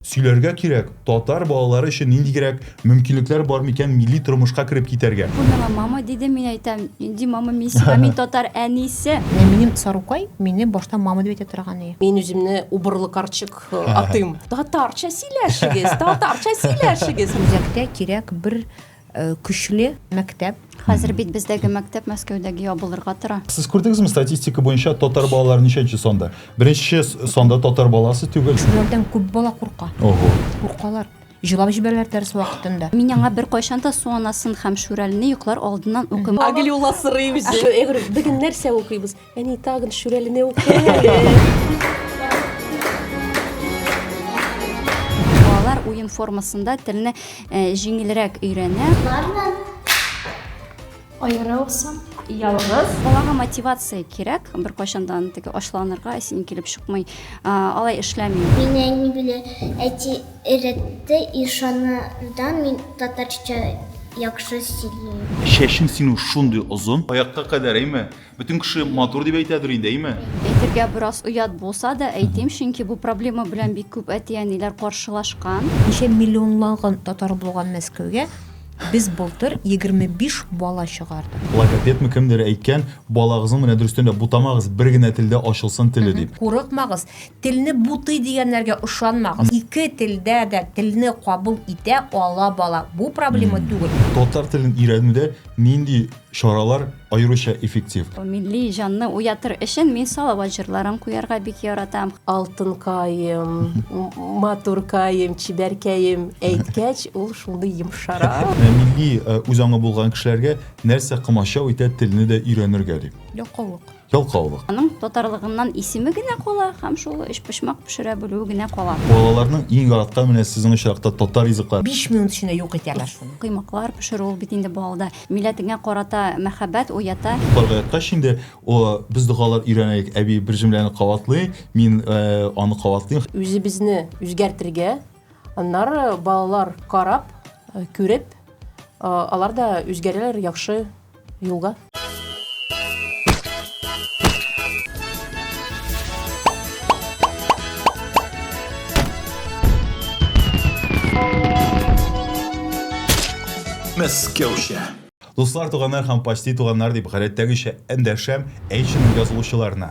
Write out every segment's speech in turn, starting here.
Сөйләргә кирәк, татар балалары өчен ниндигрәк мөмкинлекләр бар микән милли тормышка кереп китәргә? Ул миңа мама диде, мин әйтәм, нинди мама, мин сиңа, мин татар әнисе! Минем Сарукай мине башта мама дип әйтә торган и. Мин үземне убырлы карчык атыйм. Татарча сөйләшегез, татарча сөйләшегез! Үзәктә кирәк бер Э, көчле мәктәп хәзер бит бездәге мәктәп мәскәүдәге ябылырга тора сез күрдегезме статистика буенча татар балалар ничәнче санда беренче санда татар баласы түгел шулардан күп бала курка ого куркалар җылап җибәрәләр дәрес вакытында мин аңа бер кайчан да суанасын һәм шүрәлне йоклар алдыннан укыйм аглюла сырыйм җыр бөген нәрсә укыйбыз Әни тагын шүрәлене Балалар уен формасында телне э, җиңелрәк өйрәнә. Бармы? Аерылсам, ялгыз. Балага мотивация кирәк, бер кайчандан теге ачланырга син килеп чыкмый. Алай эшләми. Мин әни белән әти өйрәтте, ишанырдан мин татарча яхшы сөйлим. Шәшең синең шундый озын. Аякка кадәр, әйме? Бөтен кеше матур дип әйтәдер инде, әйме? Әйтергә бераз оят булса да әйтим, чөнки бу проблема белән бик күп әти-әниләр каршылашкан. Ничә миллионлаган татар булган Мәскәүгә без былтыр 25 бала чыгардык. Логопедмы кемдер әйткән, балагызның менә дөрестән дә бутамагыз, бер генә телдә ачылсын теле дип. Курыкмагыз, телне бутый дигәннәргә ышанмагыз. Ике телдә дә телне кабул итә ала бала, бу проблема түгел. Татар телен өйрәнүдә нинди Чаралар аеруча эффектив. Милли җанны уятыр өчен мин Салават җырларын куярга бик яратам. Алтынкаем, матуркаем, чибәркәем әйткәч, ул шундый йомшара. Милли үзаңы булган кешеләргә нәрсә комачау итә, телне дә өйрәнергә, ди. Ялкаулык. Ялкаулык. Аның татарлыгыннан исеме генә кала һәм шул өчпочмак пешерә белүе генә кала. Балаларның иң яраткан менә сезнең очракта татар ризыклары. Биш минут эчендә юк итәләр шуны. Коймаклар пешерү ул бит инде балада милләтеңә карата мәхәббәт уята. Йокларга яткач инде без догалар өйрәнәйек. Әби бер җөмләне кабатлый, мин аны кабатлыйм. Үзебезне үзгәртергә Аннары балалар карап, э, күреп, э, алар да үзгәрәләр яхшы юлга. Мәскәүчә. Дуслар, туганнар һәм почти туганнар дип гадәттәгечә эндәшәм әйшин язылучыларына.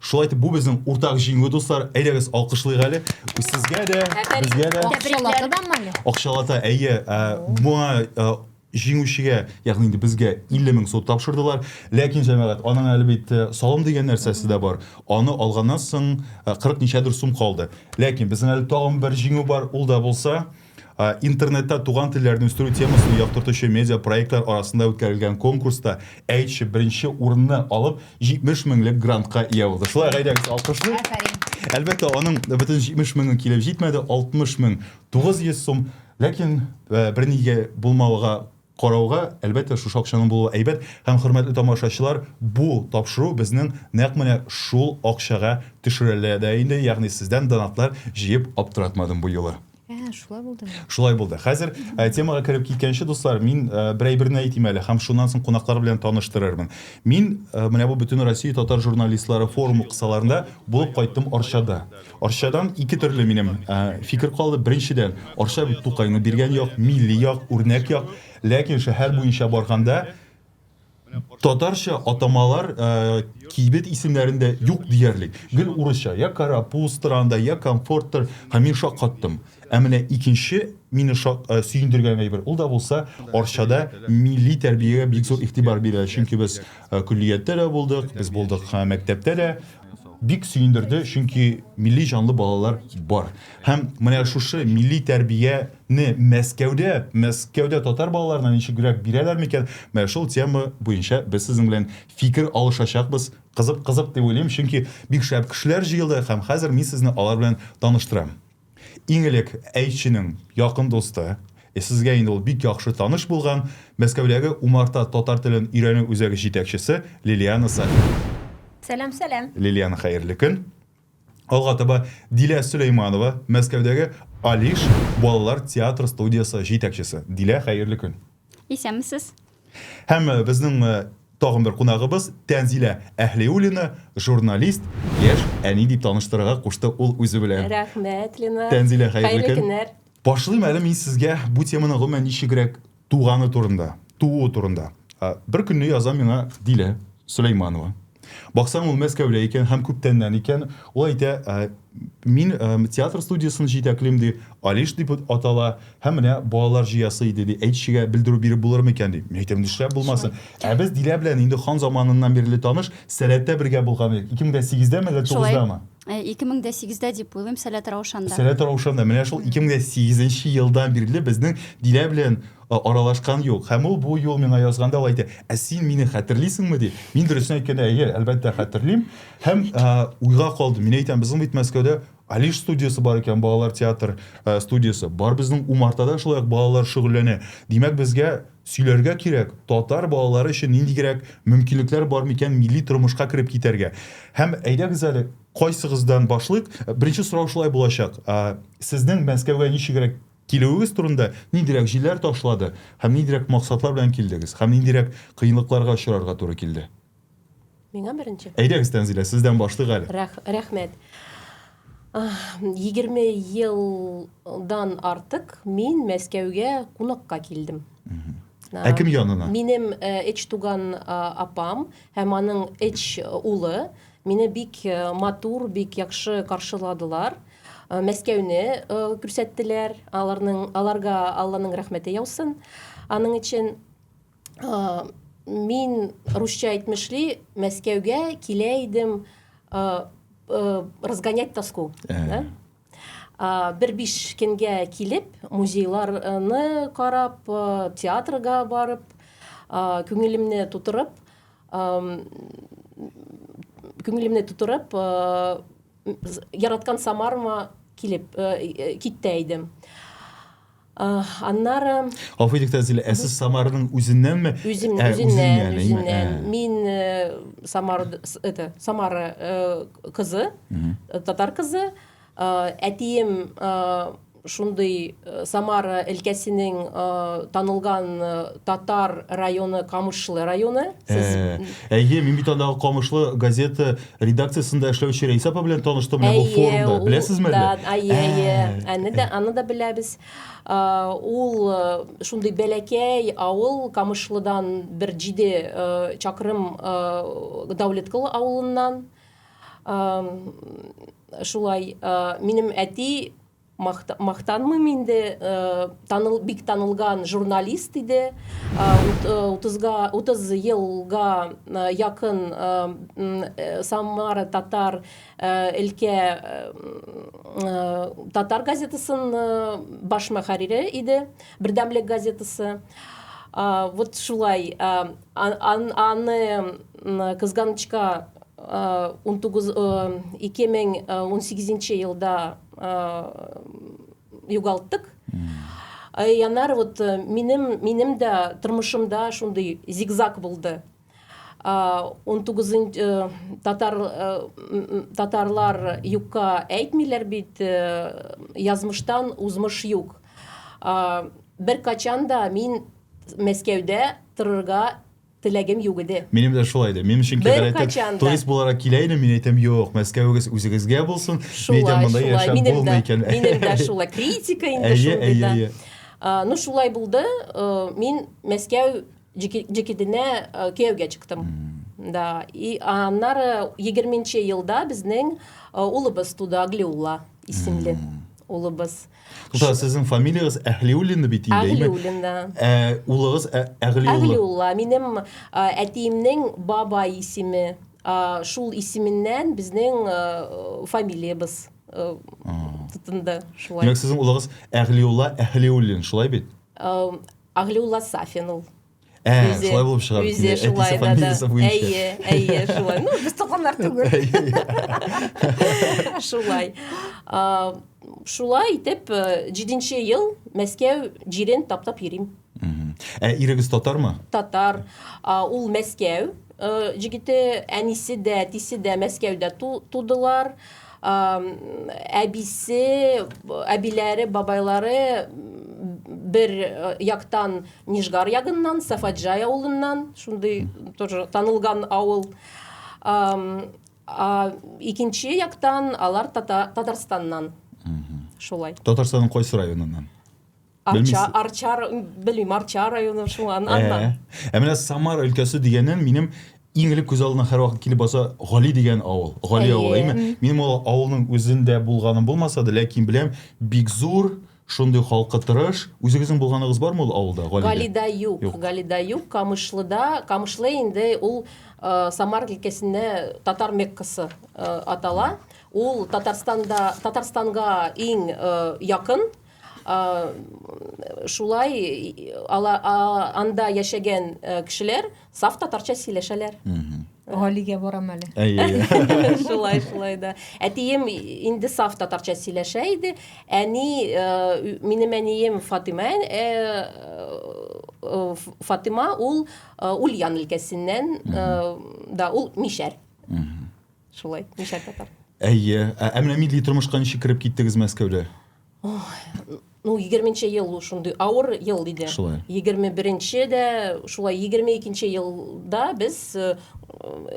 Шулай итеп, бу безнең уртак җиңү, дуслар. Әйдәгез, алкышлыйк әле. Сезгә дә, безгә дә. Акчалата да мали? Акчалата, әйе. Моңа җиңүчегә, ягъни инде безгә 50 мең сум тапшырдылар. Ләкин, җәмәгать, аның әле бит салым дигән нәрсәсе дә бар. Аны алганнан соң 40 ничәдер сум калды. Ләкин безнең әле тагын бер җиңү бар, ул да булса, Ә, Интернетта туган телләрне үстерү темасын яктыртучы медиапроектлар арасында үткәрелгән конкурста Әйтче беренче урынны алып 70 меңлек грантка ия булды. Шулай гаиләгез алкышлый. Афәрин. Әлбәттә, аның бөтен 70 меңе килеп җитмәде, 60 мең 900 сум, ләкин э, бернигә булмауга Карауга, әлбәттә, шушы акчаның булуы әйбәт һәм, хөрмәтле тамашачылар, бу тапшыру безнең нәкъ менә шул акчага төшерелә дә инде, ягъни сездән донатлар җыеп аптыратмадым бу юлы. Ә, шулай булдымы? Шулай булды. Хәзер темага кереп киткәнче, дуслар, мин бер әйберне әйтим әле һәм шуннан соң кунаклар белән таныштырырмын. Мин менә бу Бөтенроссия татар журналистлары форумы кысаларында булып кайттым Арчада. Арчадан ике төрле минем фикер калды. Беренчедән, Арча бит Тукайны биргән як, милли як, үрнәк як. Ләкин шәһәр буенча барганда татарча атамалар кибет исемнәрендә юк диярлек. Гел урысча, я Карапуз тыранда, я Комфорттыр. Һәм мин шаккаттым. Ә менә икенче мине сөендергән әйбер, ул да булса, Арчада милли тәрбиягә бик зур игътибар бирә. Чөнки без көллияттә дә булдык, без булдык мәктәптә дә. Бик сөендерде, чөнки милли җанлы балалар бар. Һәм менә шушы милли тәрбияне Мәскәүдә, Мәскәүдә татар балаларына ничегрәк бирәләр микән? Менә шул тема буенча без сезнең белән фикер алышачакбыз. Кызык, кызык дип уйлыйм, чөнки бик шәп кешеләр җыелды һәм хәзер мин сезне алар белән таныштырам. Иң элек әйтченең якын дусты, ә сезгә инде ул бик яхшы таныш булган Мәскәүдәге Умарта татар телен өйрәнү үзәге җитәкчесе Лилиана Сафина. Сәлам, сәлам. Лилиана, хәерле көн. Алга таба Дилә Сөләйманова, Мәскәүдәге Алиш балалар театр студиясе җитәкчесе. Дилә, хәерле көн. Исәнмесез. Һәм э, безнең э, тагын бер кунагыбыз Тәнзилә Әһлиуллина, журналист, яшь әни дип таныштырырга кушты ул үзе белән. Рәхмәт, Лина. Тәнзилә, хәерле көн. көннәр. Башлыйм әле мин сезгә бу теманы гомумән ничегрәк туганы турында, тууы турында. Ә, Бер көнне яза миңа Дилә Сөләйманова. Баксаң ул Мәскәүдә икән һәм күптәннән икән. Ул әйтә, ә, Мин ә, э, театр студиясен җитәклим ди, Алиш дип атала, һәм менә балалар җыясы иде ди. Әйтчегә белдерү биреп булыр микән ди. Мин әйтәм, нишләп булмасын? Ә без Дилә белән инде хан заманыннан бирле таныш, Сәләттә бергә булган идек. 2008дәме әллә 9дамы? 2008дә э, дип уйлыйм, Сәләт Раушанда. Сәләт Раушанда. Менә шул 2008 елдан бирле безнең Дилә белән Аралашкан юк. Һәм ул бу юл миңа язганда ул әйтә, Ә син мине хәтерлисеңме? ди. Мин, дөресен әйткәндә, әйе, әлбәттә, хәтерлим. Һәм уйга калдым. Мин әйтәм, безнең бит Мәскәүдә Алиш студиясе бар икән, балалар театр студиясе. Бар, безнең умартада шулай ук балалар шөгыльләнә. Димәк, безгә сөйләргә кирәк, татар балалары өчен ниндигрәк мөмкинлекләр бар микән милли тормышка кереп китәргә. Һәм әйдәгез әле, кайсыгыздан башлыйк? Беренче сорау шулай булачак. Сезнең Мәскәүгә ничегрәк Килүегез турында ниндирәк җилләр ташлады һәм ниндирәк максатлар белән килдегез һәм ниндирәк кыенлыкларга очрарга туры килде? Миңа беренче. Әйдәгез, Тәнзилә, сездән башлыйк әле. Рәх, рәхмәт. Егерме елдан артык мин Мәскәүгә кунакка килдем. Ә кем янына? Минем эч туган апам һәм аның эч улы Мине бик матур, бик яхшы каршыладылар. Мәскәүне күрсәттеләр. Аларның аларга Алланың рәхмәте яусын. Аның өчен мин русча әйтмешли Мәскәүгә килә идем разгонять тоску. Бер биш көнгә килеп, музейларны карап, театрга барып, күңелемне тутырып, күңелемне тутырып, яраткан Самарыма килеп, китте идем. Аннары Гафу итегез, Зилә, ә сез Самарның үзеннәнме? Үзем, ә, үзеннән, үзеннән. Ә. Мин э, Самар это Самара э, кызы, э, татар кызы. Әтием шундый Самара өлкәсенең танылган татар районы Камышлы районы. Сез Әйе, мин бит андагы Камышлы газета редакциясендә эшләүче Рәйсә апа белән таныштым менә бу форумда. Беләсезме әллә? Да, әйе, әйе. Аны да, аны да беләбез. Ул шундый бәләкәй авыл Камышлыдан бер җиде чакрым Дәүләткол авылыннан. Шулай минем әти мактанмыйм инде э, таныл бик танылган журналист иде э, утызга утыз елга э, якын самара татар өлкә татар газетасын баш мөхәррире иде бердәмлек газетасы вот шулай аны кызганычка 19 2018 елда югалттык янар вот э, минем минем дә тормышымда шундый зигзаг булды он тугызынчы э, татар э, татарлар юкка әйтмиләр бит язмыштан узмыш юк бер качан да мин мәскәүдә торырга Теләгем юк иде. Минем дә шулай иде. Минем өчен кебер әйтеп, турист буларак килә идем, мин әйтәм, юк, Мәскәвегез үзегезгә булсын. Мин әйтәм, монда яшәп булмый икән. Минем дә шулай критика инде шундый да. Ну, шулай булды. Э, мин Мәскәү җекеденә э, кияүгә чыктым. Да. И аннары 20 елда безнең э, улыбыз туды, Аглиулла исемле улыбыз. Тукта, сезнең фамилиягез Әһлиуллина бит инде. Әһлиуллина. Ә улыгыз ә, Әгълиулла. Әгълиулла. Минем әтиемнең баба исеме. Шул исеменнән безнең фамилиябез тотынды шулай. Димәк, сезнең улыгыз Әгълиулла Әһлиуллин, шулай бит? Әгълиулла Сафин ул. Ә, үзе, шулай булып чыга. Үзе шулай да, да. Әйе, әйе, шулай. Ну, без туганнар түгел. Шулай. Шулай итеп, э, җиденче ел Мәскәү җирен таптап йөрим. Ә ирегез татармы? Татар. Ул Мәскәү э, җигете, әнисе дә, әтисе дә Мәскәүдә тудылар. Әбисе, әбиләре, бабайлары бер э, яктан Нижгар ягыннан, Сафаджай авылыннан, шундый тоже танылган авыл. Икенче яктан алар Татарстаннан. Шулай. Татарстанның кайсы районыннан? Арча, Арча, белмим, Арча районы шуңан, э, аннан. Ә э, менә Самара өлкәсе дигәннән минем иң элек күз алдына һәрвакыт килеп баса Гали дигән авыл. Гали авылы, әйме? Минем ул авылның үзендә булганым булмаса да, ләкин беләм, бик зур, Шундый халкы тырыш. Үзегезнең булганыгыз бармы ул авылда, Галидә? Галидә юк. Юк. Галидә юк. Камышлыда, Камышлы инде ул Самар өлкәсендә татар Меккасы атала. Ул Татарстанда, Татарстанга иң якын. Шулай ала, анда яшәгән кешеләр Саф татарча сөйләшәләр. Галигә барам әле. Әйе. Шулай, шулай да. Әтием инде саф татарча сөйләшә иде. Әни, э, минем әнием Фатима, э, э, Фатима ул э, Ульян өлкәсеннән, э, да, ул мишәр. Шулай, мишәр татар. Әйе. Ә ә менә милли тормышка ничек кереп киттегез Мәскәүдә? ну егерменче ел ул шундый авыр ел иде шулай егерме беренче дә шулай егерме икенче елда без э,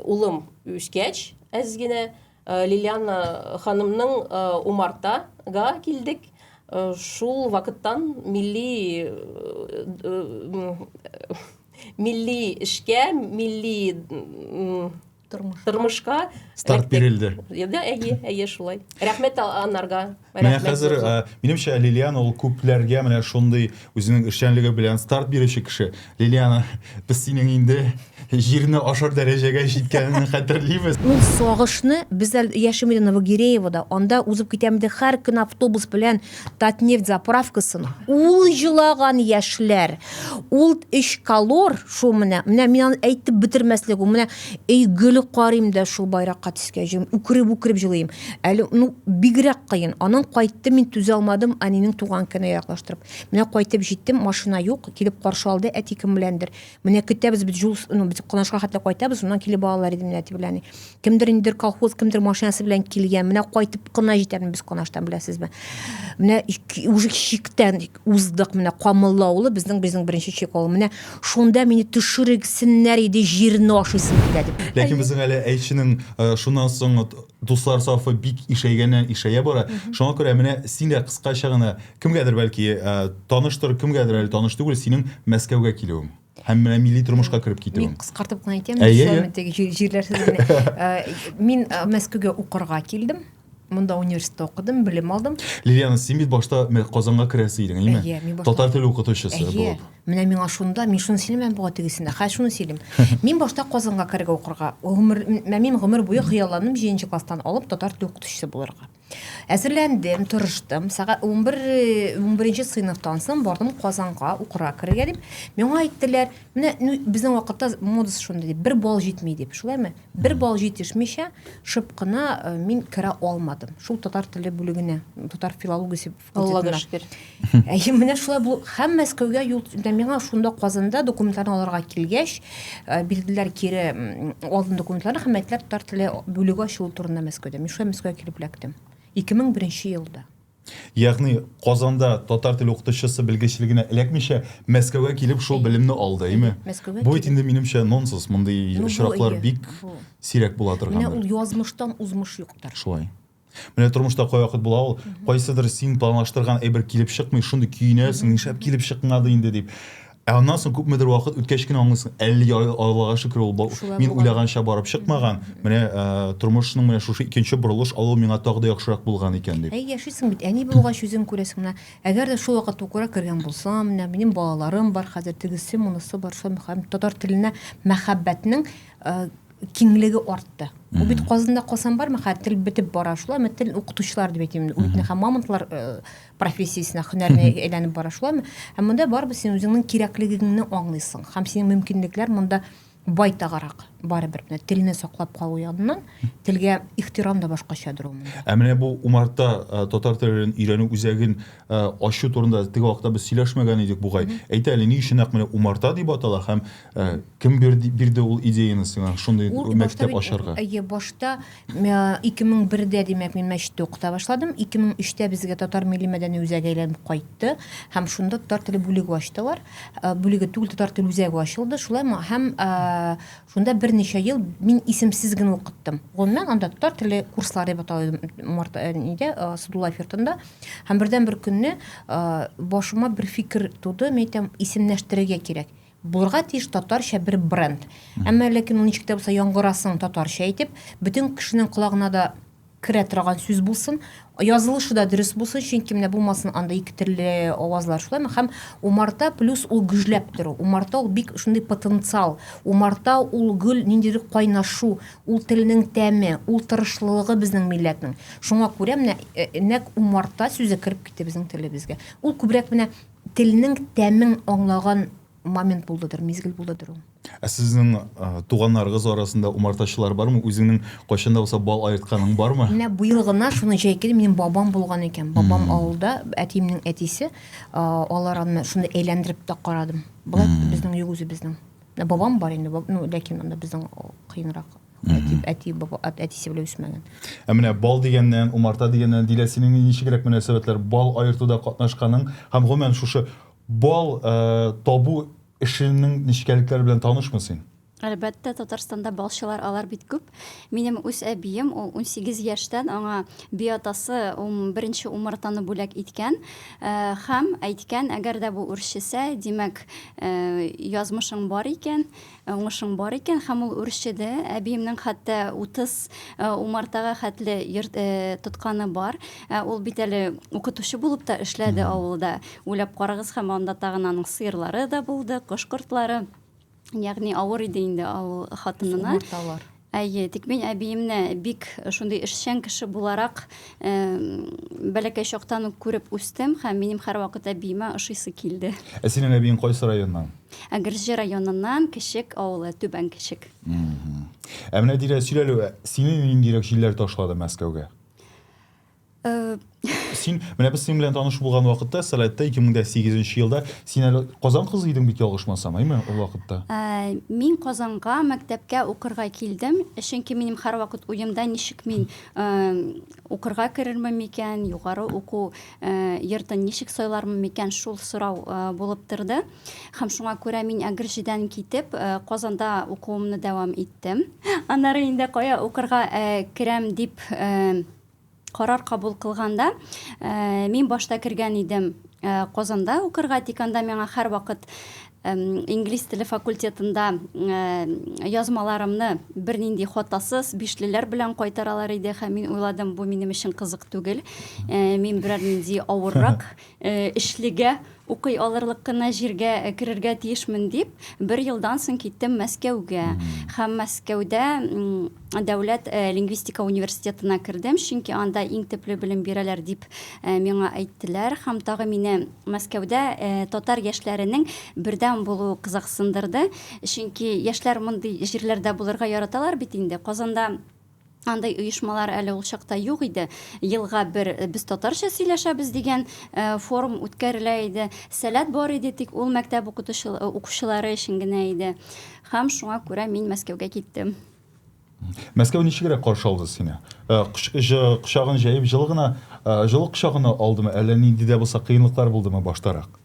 улым үскәч әз генә э, лилиана ханымның э, умартага килдек шул вакыттан милли милли эшкә милли тормышка, тормышка старт бирелде да әйе әйе шулай рәхмәт анарга менә хәзер э, минемчә лилиана ул күпләргә менә шундый үзенең эшчәнлеге белән старт бирүче кеше лилиана без синең инде җирне ашар дәрәҗәгә җиткәнен хәтерлибез ул сагышны без әле яшим иде новогиреевода анда узып китәм иде һәр көн автобус белән Татнефть заправкасын ул җылаган яшьләр, ул өч колор, шул менә, менә мин аны әйтеп бетермәслек, ул менә өй гөле карыйм да шул байракка төскә җыйм, үкереп-үкереп җылыйм. Әле, ну, бигрәк кыен. Аннан кайттым, мин түзә алмадым, әнинең туган көненә яраклаштырып. Менә кайтып җиттем, машина юк, килеп каршы алды әти кем беләндер. Менә көтәбез без җул, ну, без кунашка хәтле кайтабыз, моннан килеп балалар иде менә дип беләни. Кемдер индер колхоз, кемдер машинасы белән килгән. Менә кайтып кына җитәбез без кунаштан беләсезме? Менә уже чиктән уздык, менә Камыллы авылы безнең безнең беренче чик авыл. Менә шунда мине төшерексеннәр иде, җирне ашыйсың килә дип. Ләкин безнең әле әйченең э, шуннан соң Дуслар сафы бик ишәйгәннән ишәя бара. Шуңа күрә менә син дә кыскача гына, кемгәдер бәлки э, таныштыр, кемгәдер әле таныш түгел, синең Мәскәүгә килүең һәм менә милли тормышка кереп китүең. Мин кыскартып кына әйтәм, җирләрсез генә. Э, мин э, Мәскәүгә укырга килдем. Монда университетта укыдым, белем алдым. Лилиана, син бит башта Казанга керәсе идең, әйме? Татар теле укытучысы булып. Менә миңа шунда, мин шуны сөйләмәм буга тегесендә. Хәзер шуны сөйлим. Мин башта Казанга керергә укырга. Гомер, мин гомер буе хыялланым 7 класстан алып татар тел укытучысы булырга. Әзерләндем, тырыштым. Сәгать 11 11 сыйныфтан соң бардым Казанга укырга керергә дип. Миңа әйттеләр, менә ну, безнең вакытта модасы шундый дип, бер бал җитми дип. Шулаймы? Бер бал җитешмичә шып кына э, мин керә алмадым. Шул татар теле бүлегенә, татар филологиясе Аллага шөкер. Әй, менә шулай бу һәм Мәскәүгә юл инде миңа шунда Казанда документларны алырга килгәч, э, бирделәр кире алдын документларны һәм мәктәп татар теле бүлеге ачылу турында Мәскәүдә. Мин шулай Мәскәүгә килеп эләктем. 2001 елда. Ягъни Казанда татар теле укытучысы белгечлегенә эләкмичә Мәскәүгә килеп шул белемне алды, әйме? Мәскәүгә Бу инде минемчә нонсенс, мондый очраклар бик сирәк була торган. Менә ул язмыштан узмыш юктыр. Шулай. Менә тормышта кайвакыт була ул, кайсыдыр син планлаштырган әйбер килеп чыкмый, шундый көенәсең, нишләп килеп чыкмады инде дип. Ә аннан соң күпмедер вакыт үткәч кенә аңлыйсың, әлеге Аллага шөкер ул мин уйлаганча барып чыкмаган. Менә э, тормышның менә шушы икенче борылыш алу миңа тагы да яхшырак булган икән дип. Әй, яшисең бит, әни булгач үзең күрәсең менә. Әгәр дә шул вакыт укуга кергән булсам, менә минем балаларым бар хәзер, тегесе, монысы бар, шул татар теленә мәхәббәтнең э, киңлеге артты. Ул бит Казанда калсам бармы, хәзер тел бетеп бара шулай, мен тел укытучылар дип әйтәм. Ул бит мамонтлар э, профессиясенә, һөнәренә әйләнеп бара шулай. Һәм монда барыбер син үзеңнең кирәклегеңне аңлыйсың. Һәм синең мөмкинлекләр монда байтагарак барыбер менә телне саклап калу ягыннан телгә ихтирам да башкачадыр ул монда. Ә менә бу Умарта э, татар телен өйрәнү үзәген э, ачу турында теге вакытта без сөйләшмәгән идек бугай. Әйтә әле ни өчен нәкъ менә Умарта дип атала һәм Ә, кем бирде, бирде ул идеяны сиңа шундый Ул башта мәктәп бит- ачарга? Әйе, башта мә, 2001дә, димәк, мин мәчеттә укыта башладым. 2003тә безгә татар милли мәдәни үзәге әйләнеп кайтты һәм шунда татар теле бүлеге ачтылар. Ә, Бүлеге түгел, татар теле үзәге ачылды. Шулай ма- һәм ә, шунда берничә ел мин исемсез генә укыттым. Гомумән анда татар теле курслары дип атала иде Март ә, нидә, ә, Садулаев йортында. Һәм бердән бер көнне ә, башыма бер фикер туды, мин әйтәм, исемнәштерергә кирәк. Булырга тиеш татарча бер бренд. Әмма ләкин ул ничек тә булса яңгырасын татарча итеп, бөтен кешенең колагына да керә торган сүз булсын, язылышы да дөрес булсын, чөнки менә булмасын анда ике төрле авазлар шулаймы? Һәм умарта плюс ул гөжләп тору. Умарта ул бик шундый потенциал. Умарта ул гөл ниндидер кайнашу, ул телнең тәме, ул тырышлылыгы безнең милләтнең. Шуңа күрә менә э, нәк умарта сүзе кереп китте безнең телебезгә. Ул күбрәк менә Телнең тәмен аңлаган момент булдыдыр, мизгел булдыдыр ул. Ә сезнең а, туганнарыгыз арасында умартачылар бармы? Үзеңнең кайчан да булса бал аертканың бармы? Менә быел гына шуны җәйкел минем бабам булган икән. Бабам авылда, әтиемнең әтисе, а, алар аны шуны әйләндереп тә карадым. Болай безнең юк үзебезнең. Ә бабам бар инде, ну, ләкин анда безнең кыенрак. Әти, әти, баба, әтисе белән үсмәгән. Ә менә бал дигәннән, умарта дигәннән дилә синең ничегрәк мөнәсәбәтләр бал аертуда катнашканың һәм гомумән шушы бал э, табу эшенең нечкәлекләре белән танышмы син? Әлбәттә, Татарстанда балчылар алар бит күп. Минем үз әбием, ул унсигез яшьтән аңа би атасы беренче умартаны бүләк иткән һәм әйткән, әгәр дә бу үрчесә, димәк, язмышың бар икән, уңышың бар икән, һәм ул үрчеде. Әбиемнең хәтта утыз умартага хәтле тотканы бар. Ул бит әле укытучы булып та эшләде авылда. Уйлап карагыз, һәм анда тагын аның сыерлары да булды, кош-кортлары. Ягъни авыр иде инде авыл хатынына. Сумарталар. Әйе, тик мин әбиемне бик шундый эшчән кеше буларак э, бәләкәй чактан ук күреп үстем һәм минем һәрвакыт әбиемә ошыйсы килде. Ә синең әбиең кайсы районнан? Әгерҗе районыннан Кечек авылы, Түбән Кечек. Ә менә Дилә сөйләлү, сине ниндирәк җилләр ташлады Мәскәүгә? Э, син менә без синең белән таныш булган вакытта сәләттә 2008 елда син әле казан кызы идең бит ялгышмасам әйме ул вакытта э, мин казанга мәктәпкә укырга килдем чөнки минем һәрвакыт уемда ничек мин э, укырга керермен микән югары уку йортын ничек сайлармын микән шул сорау булып торды һәм шуңа күрә мин әгерҗедән китеп казанда укуымны дәвам иттем аннары инде кая укырга керәм дип Карар кабул кылганда, мин башта кергән идем Казанда укырга, тик анда миңа һәрвакыт инглиз теле факультетында язмаларымны бернинди хатасыз, бишлеләр белән кайтаралар иде һәм мин уйладым, бу минем өчен кызык түгел, мин берәр нинди авыррак Эшлегә, укый алырлык кына җиргә керергә тиешмен дип, бер елдан соң киттем Мәскәүгә. Һәм Мәскәүдә дәүләт лингвистика университетына кердем, чөнки анда иң төпле белем бирәләр дип миңа әйттеләр. Һәм тагы мине Мәскәүдә татар яшьләренең бердәм булуы кызыксындырды, чөнки яшьләр мондый җирләрдә булырга яраталар бит инде. Казанда андай оешмалар әле ул чакта юк иде елга бер э, без татарча сөйләшәбез дигән э, форум үткәрелә иде сәләт бар иде тик ул мәктәп э, укучылары өчен генә иде һәм шуңа күрә мин мәскәүгә киттем мәскәү ничегрәк каршы алды сине кочагын җәеп җылы гына җылы кочагына алдымы әллә нинди дә булса кыенлыклар булдымы баштарак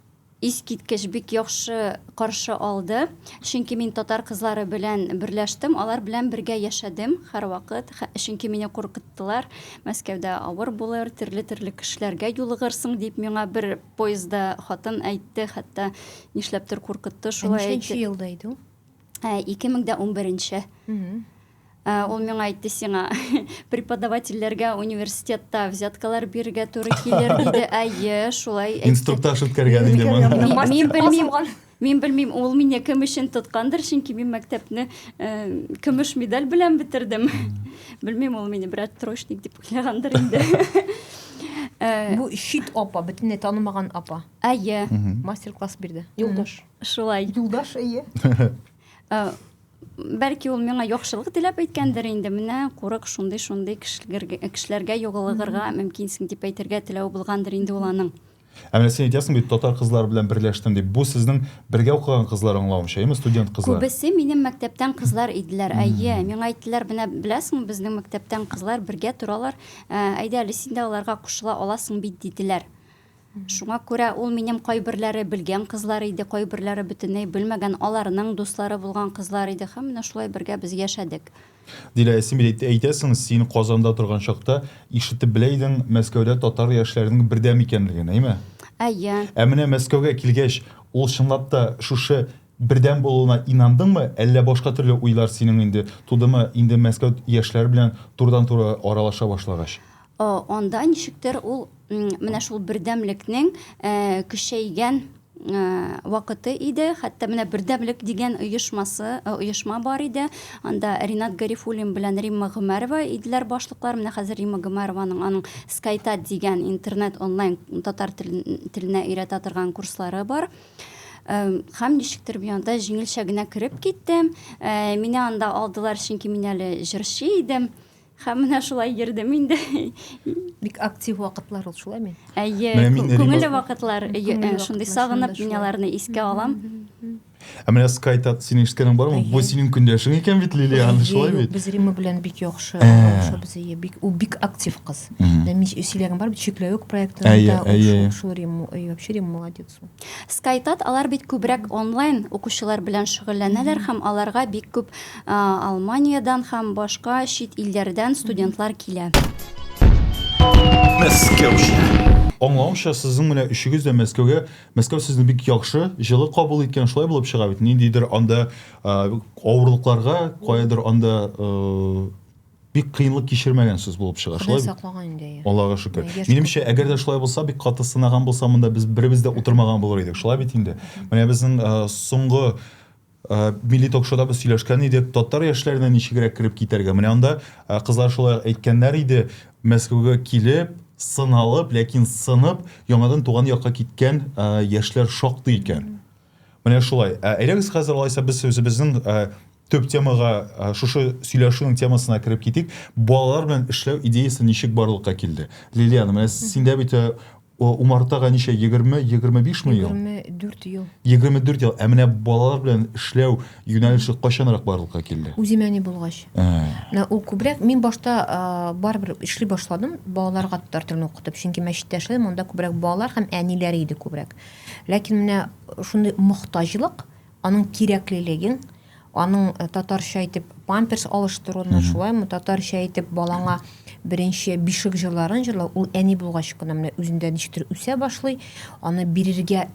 Искиткеч, бик яхшы каршы алды. Чөнки мин татар кызлары белән берләштем, алар белән бергә яшәдем һәрвакыт. Чөнки мине куркыттылар, Мәскәүдә авыр булыр, төрле-төрле кешеләргә юлыгырсың, дип миңа бер поездда хатын әйтте, хәтта нишләптер куркытты, шулай әйтте. Ә ничәнче елда иде ул? Ә, 2011 нче. Ә, ул миңа әйтте сиңа, преподавательләргә университетта взяткалар бирергә туры килер, диде. Әйе, шулай әйтте. Инструктаж үткәргән инде моны. Мин- Мин белмим, мин белмим, ул мине кем өчен тоткандыр, чөнки мин мәктәпне э, көмеш медаль белән бетердем. Белмим, ул мине берәр троечник дип уйлагандыр инде. Э, Бу чит апа, бөтенләй танымаган апа. Әйе, Мгм. Мастер-класс бирде. Юлдаш. шулай. Юлдаш әйе. Э, Бәлки ул миңа яхшылык теләп әйткәндер инде, менә курык шундый шундый кешеләргә югылыгырга мөмкинсең дип әйтергә теләве булгандыр инде ул аның. Ә менә син әйтәсең бит, татар кызлары белән берләштем дип. Бу сезнең бергә укыган кызлар аңлавымча, яме студент кызлар? Күбесе минем мәктәптән кызлар иделәр. Әйе, миңа әйттеләр, менә беләсеңме, безнең мәктәптән кызлар бергә торалар. Ә, әйдә әле син дә аларга кушыла аласың бит, диделәр. Шуңа күрә ул минем кайберләре белгән кызлар иде, кайберләре бөтенләй белмәгән, аларның дуслары булган кызлар иде һәм менә шулай бергә без яшәдек. Дилә, син бит әйтәсең, син Казанда торган чакта ишетеп белә идең Мәскәүдә татар яшьләренең бердәм икәнлеген, әйме? Әйе. Ә менә Мәскәүгә килгәч, ул чынлап та шушы бердәм булуына инандыңмы, әллә башка төрле уйлар синең инде тудымы, инде Мәскәү яшьләре белән турыдан-туры аралаша башлагач? Анда ничектер ул менә шул бердәмлекнең көчәйгән вакыты иде. Хәтта менә Бердәмлек дигән оешмасы, оешма бар иде. Анда Ринат Гарифуллин белән Римма Гомәрова иделәр башлыклар. Менә хәзер Римма Гомәрованың аның Скайтат дигән интернет онлайн татар теленә өйрәтә торган курслары бар. Хәм ничектер мин анда җиңелчә генә кереп киттем. Мине анда алдылар, чөнки мин әле җырчы идем. Һәм менә шулай йөрдем инде. Бик актив вакытлар ул шулай мин. Әйе, күңелле вакытлар, шундый сагынып мин аларны искә алам. Ә менә Скай тат синең ишеткәнең бармы? Бу синең көндәшең икән бит Лилиан, шулай бит? Без Рима белән бик яхшы, яхшы без әйе, бик ул бик актив кыз. Мин сөйләгән бар бит чикләвек проектында, ул шул Рима, вообще Рима молодец ул. Скайтат алар бит күбрәк онлайн укучылар белән шөгыльләнәләр һәм аларга бик күп Алманиядән һәм башка чит илләрдән студентлар килә. Мәскәүчә. Аңлавымча, сезнең менә өчегез дә Мәскәүгә, Мәскәү сезне бик яхшы, җылы кабул иткән, шулай булып чыга бит, ниндидер анда авырлыкларга, каядыр анда бик кыенлык кичермәгәнсез булып чыга. Шулай бит? саклаган инде. Аллага шөкер. Минемчә, әгәр дә шулай булса, бик каты сынаган булса, монда без беребез дә утырмаган булыр идек. Шулай бит инде. Менә безнең соңгы милли ток-шоуда без сөйләшкән идек, татар яшьләренә ничегрәк кереп китәргә. Менә анда кызлар шулай әйткәннәр иде, Мәскәүгә килеп, сыналып, ләкин сынып, яңадан туган якка киткән яшьләр шактый икән. Менә шулай. Әйдәгез хәзер алайса без үзебезнең төп темага шушы сөйләшүнең темасына кереп китик балалар белән эшләү идеясы ничек барлыкка килде лилиана менә синдә бит э, умартага ничә егерме егерме бишме ел егерме дүрт ел егерме дүрт ел ә менә балалар белән эшләү юнәлеше кайчанрак барлыкка килде үземә не булгач ә. ул күбрәк мин башта э, барыбер эшли башладым балаларга татар телен укытып чөнки мәчеттә эшләдем анда күбрәк балалар һәм әниләре иде күбрәк ләкин менә шундый мохтаҗлык аның кирәклелеген, аның э, татарча әйтеп памперс алыштыруны, шулаймы татарча әйтеп балаңа беренче бишек җырларын җырлау, ул әни булгач кына менә үзендә ничектер үсә башлый, аны бирергә,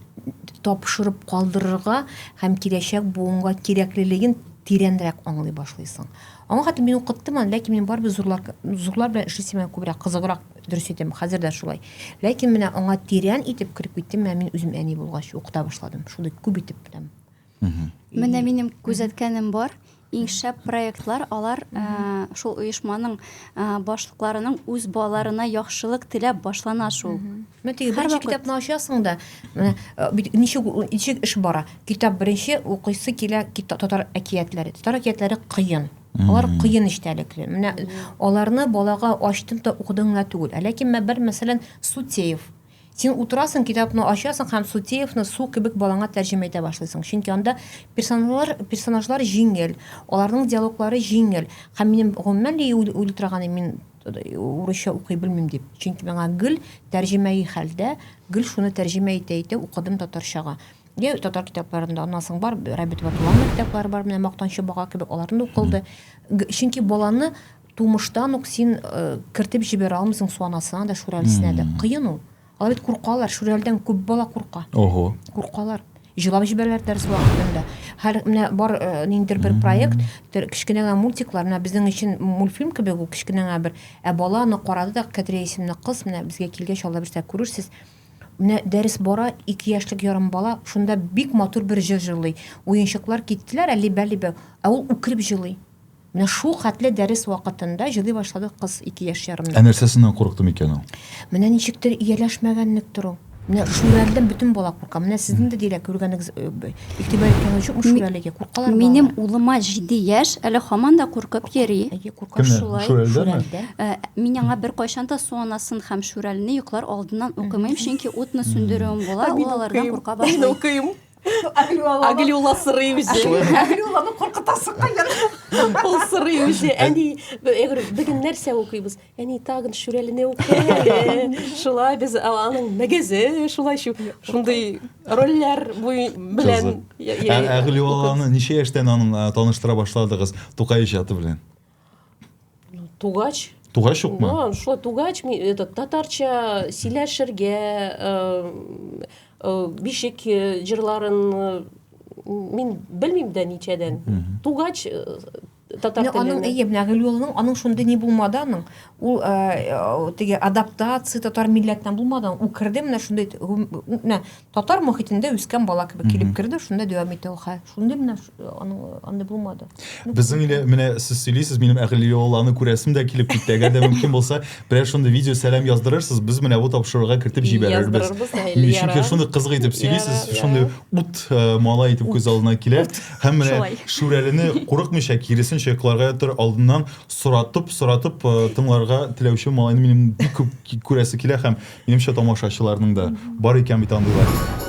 тапшырып калдырырга һәм киләчәк буынга кирәклелеген тирәнрәк аңлый башлыйсың. Аңа хәтле мин укыттым аны, ләкин мин барыбер зурлар, зурлар белән эшлисем күбрәк кызыграк Дөрес әйтәм, хәзер дә шулай. Ләкин менә аңа тирән итеп кереп киттем, менә мин үзем әни булгач укыта башладым. Шундый күп итеп беләм. Менә минем күзәткәнем бар. Иң шәп проектлар алар ә, шул оешманың ә, башлыкларының үз балаларына яхшылык теләп башлана шул. Менә теге Һәр беренче вакыт. китапны ачасың да, менә э, бит- ничек ничек эш бара. Китап беренче укыйсы килә кита- татар әкиятләре. Татар әкиятләре кыен. Алар кыен эчтәлекле. Менә аларны балага ачтың да укыдың гына түгел. Ә ләкин менә бер мәсәлән Сутеев. Син утырасың, китапны ачасың һәм Сутеевны су кебек балаңа тәрҗемә итә башлыйсың. Чөнки анда персонажлар, персонажлар җиңел, аларның диалоглары җиңел. Һәм минем гомумән дә уйлый торганы мин урысча укый белмим дип. Чөнки миңа гел тәрҗемәи хәлдә, гел шуны тәрҗемә итә итә укыдым татарчага. Йә татар китапларында, аннан соң бар Рабит Ватулан китаплары бар, менә Мактанчы бага кебек аларны укылды. Чөнки баланы тумыштан ук син э, кертеп җибәрә алмыйсың суанасына да, шүрәлесенә дә. Кыен ул. Алар бит куркалар, шүрәлдән күп бала курка. Ого. Куркалар. Җылап җибәрәләр дәрес вакытында. Һәр менә бар э, ниндидер бер проект, тер- кечкенә генә мультиклар, менә безнең өчен мультфильм кебек ул кечкенә генә бер. Ә бала аны карады да, Кәдрия исемле кыз, менә безгә килгәч, алла бирсә күрерсез. Менә дәрес бара, ике яшьлек ярым бала шунда бик матур бер җыр җырлый. Уенчыклар киттеләр, ә либә-либә, ә ул үкереп җылый. Менә шул хәтле дәрес вакытында җылый башлады кыз ике яшь ярымда. Ә нәрсәсеннән курыкты микән ул? Менә ничектер ияләшмәгәнлектер ул. Менә шүрәледән бөтен бала курка. Менә сезнең дә диләр күргәнегез, э, игътибар иткәнегез юкмы шүрәлегә? Куркалар балалар. Минем улыма җиде яшь, әле хаман да куркып йөри. Әйе, курка. Шулай, шүрәлдәме? Э, мин аңа бер кайчан да су анасын һәм шүрәлне йоклар алдыннан укымыйм, чөнки утны сүндерүем була, ул алардан курка башлый. Мин укыйм. Агилюла сырый үзе. Агилюланы куркытасың кайдан? Ул сырый үзе. Әни, бүген нәрсә укыйбыз? Әни тагын шүрәлене укый. Шулай без аның мәгәзе, шулай шундый рольләр белән ә гөлюаланы ничә яшьтән аның таныштыра башладыгыз тукай иҗаты белән тугач тугач юкмы ну шулай тугач этот татарча сөйләшергә э, э, бишек э, җырларын мин белмим дә ничәдән тугач татар теле. Аның әйе, менә Гөлюлының аның шундый ни булмады аның. Ул э, теге адаптация татар милләтеннән булмады. Ул керде менә шундый менә татар мохитендә үскән бала кебек килеп керде, шунда дәвам итә ул хәл. Шундый менә аның аны булмады. Ну, Безнең иле менә сез сөйлисез, минем Гөлюланы күрәсем дә килеп китте. Әгәр дә мөмкин булса, берәр шундый видео сәлам яздырырсыз, без менә бу тапшыруга кертеп җибәрербез. Чөнки шундый кызык итеп сөйлисез, шундый ут э, малай итеп күз алдына килә. Һәм менә Шулай. Шүрәлене курыкмыйча, киресенчә йокларга ятыр алдыннан соратып, соратып э, тыңларга теләүче малайны минем бик күп ки- күрәсе килә һәм минемчә тамашачыларның да бар икән бит андыйлар.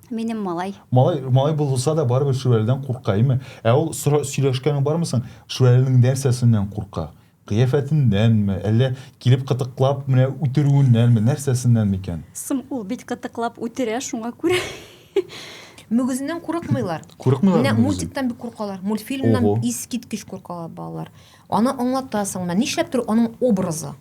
Минем малай. Малай, малай булса да барыбер Шүрәледән курка, әйме? Ә ул сөйләшкәнең бармы соң? Шүрәленең нәрсәсеннән курка? Кыяфәтеннәнме, әллә килеп кытыклап менә үтерүеннәнме, нәрсәсеннән микән? Соң ул бит кытыклап үтерә, шуңа күрә. Мөгезеннән курыкмыйлар. Курыкмыйлар. Менә мультиктан бик куркалар. Мультфильмнан искиткеч куркалар балалар. Аны аңлатасыңмы? Нишләптер аның образы.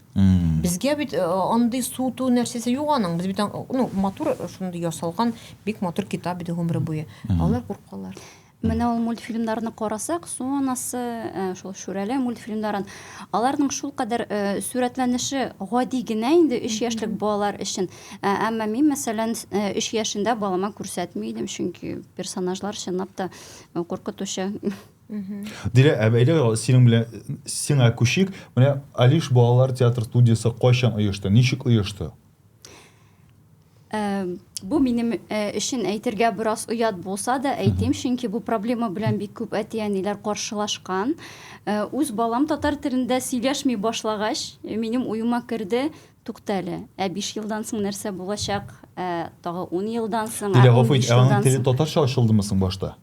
Безгә бит э, андый суту нәрсәсе юк аның. Без бит ну матур э, шундый ясалган бик матур китап иде гомере буе. Алар куркалар. Менә ул мультфильмнарны карасак, сонасы, э, шул Шүрәле мультфильмнарын, аларның шул кадәр э, сурәтләнеше гади генә инде 3 яшьлек балалар өчен. Ә, әмма мин, мәсәлән, 3 э, яшендә балама күрсәтми идем, чөнки персонажлар чынлап та куркытучы. Дилә, ә бәйле синең белән сиңа күчик. Менә Алиш балалар театр студиясе кайчан оешты? Ничек оешты? Э, бу минем э, өчен әйтергә бераз оят булса да әйтим, чөнки бу проблема белән бик күп әти-әниләр каршылашкан. Э, үз балам татар телендә сөйләшми башлагач, минем уема керде, туктале. Ә 5 елдан соң нәрсә булачак? Тагы 10 елдан соң, 15 елдан соң. Дилә, гафу ит, ә аның теле татарча ачылдымы соң башта?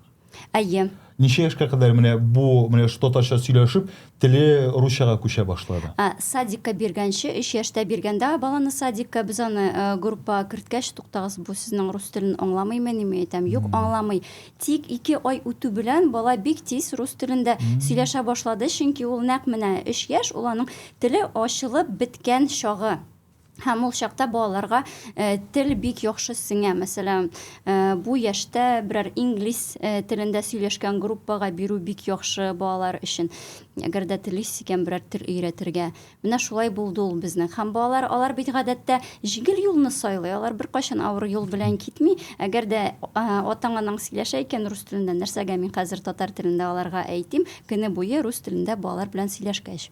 Әйе. Ничә яшькә кадәр менә бу менә татарча сөйләшеп, теле русчага күчә башлады? Ә, садикка биргәнче, өч яшьтә биргәндә баланы садикка, без аны э, группа керткәч, туктагыз, бу сезнең рус телен аңламыймы, ниме әйтәм? Юк, аңламый. Тик ике ай үтү белән бала бик тиз рус телендә сөйләшә башлады, чөнки ул нәкъ менә өч яшь, ул аның теле ачылып беткән чагы. Һәм ул чакта балаларга э, тел бик яхшы сеңә. Мәсәлән, э, бу яшьтә берәр инглиз э, телендә сөйләшкән группага бирү бик яхшы балалар өчен. Әгәр дә телис икән берәр тел өйрәтергә. Менә шулай булды ул безнең. Һәм балалар алар бит гадәттә җиңел юлны сайлый. Алар беркайчан авыр юл белән китми. Әгәр дә атаң анаң сөйләшә икән рус телендә, нәрсәгә мин хәзер татар телендә аларга әйтим, көне буе рус телендә балалар белән сөйләшкәч.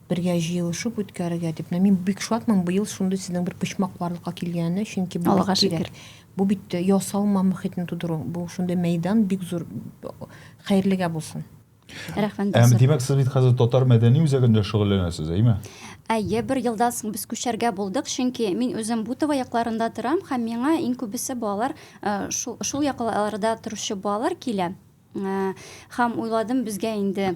Бергә җыелышып үткәрергә дип. Менә мин бик шатмын быел шундый сезнең бер почмак барлыкка килгәненә, чөнки бу Аллага шөкер. Бу бит э, ясалма мөхитне тудыру. Бу шундый мәйдан бик зур хәерлегә булсын. Рәхмәт. Әм, димәк, сез бит хәзер татар мәдәни үзәгендә шөгыльләнәсез, әйме? Әйе, бер елдан соң без күчәргә булдык, чөнки мин үзем Бутово якларында торам һәм миңа иң күбесе балалар э, шул, шул якларда торучы балалар килә. Э, һәм уйладым, безгә инде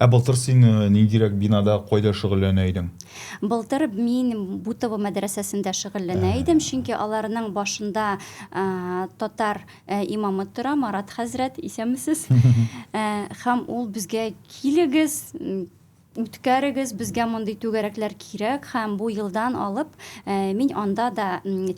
Ә былтыр син ниндирәк бинада, кайда шөгыльләнә идең? Былтыр мин Бутово мәдрәсәсендә шөгыльләнә идем, чөнки аларның башында татар имамы тора, Марат хәзрәт, исәнмесез. Һәм ул безгә килегез, үткәрегез, безгә мондый түгәрәкләр кирәк һәм бу елдан алып э, мин анда да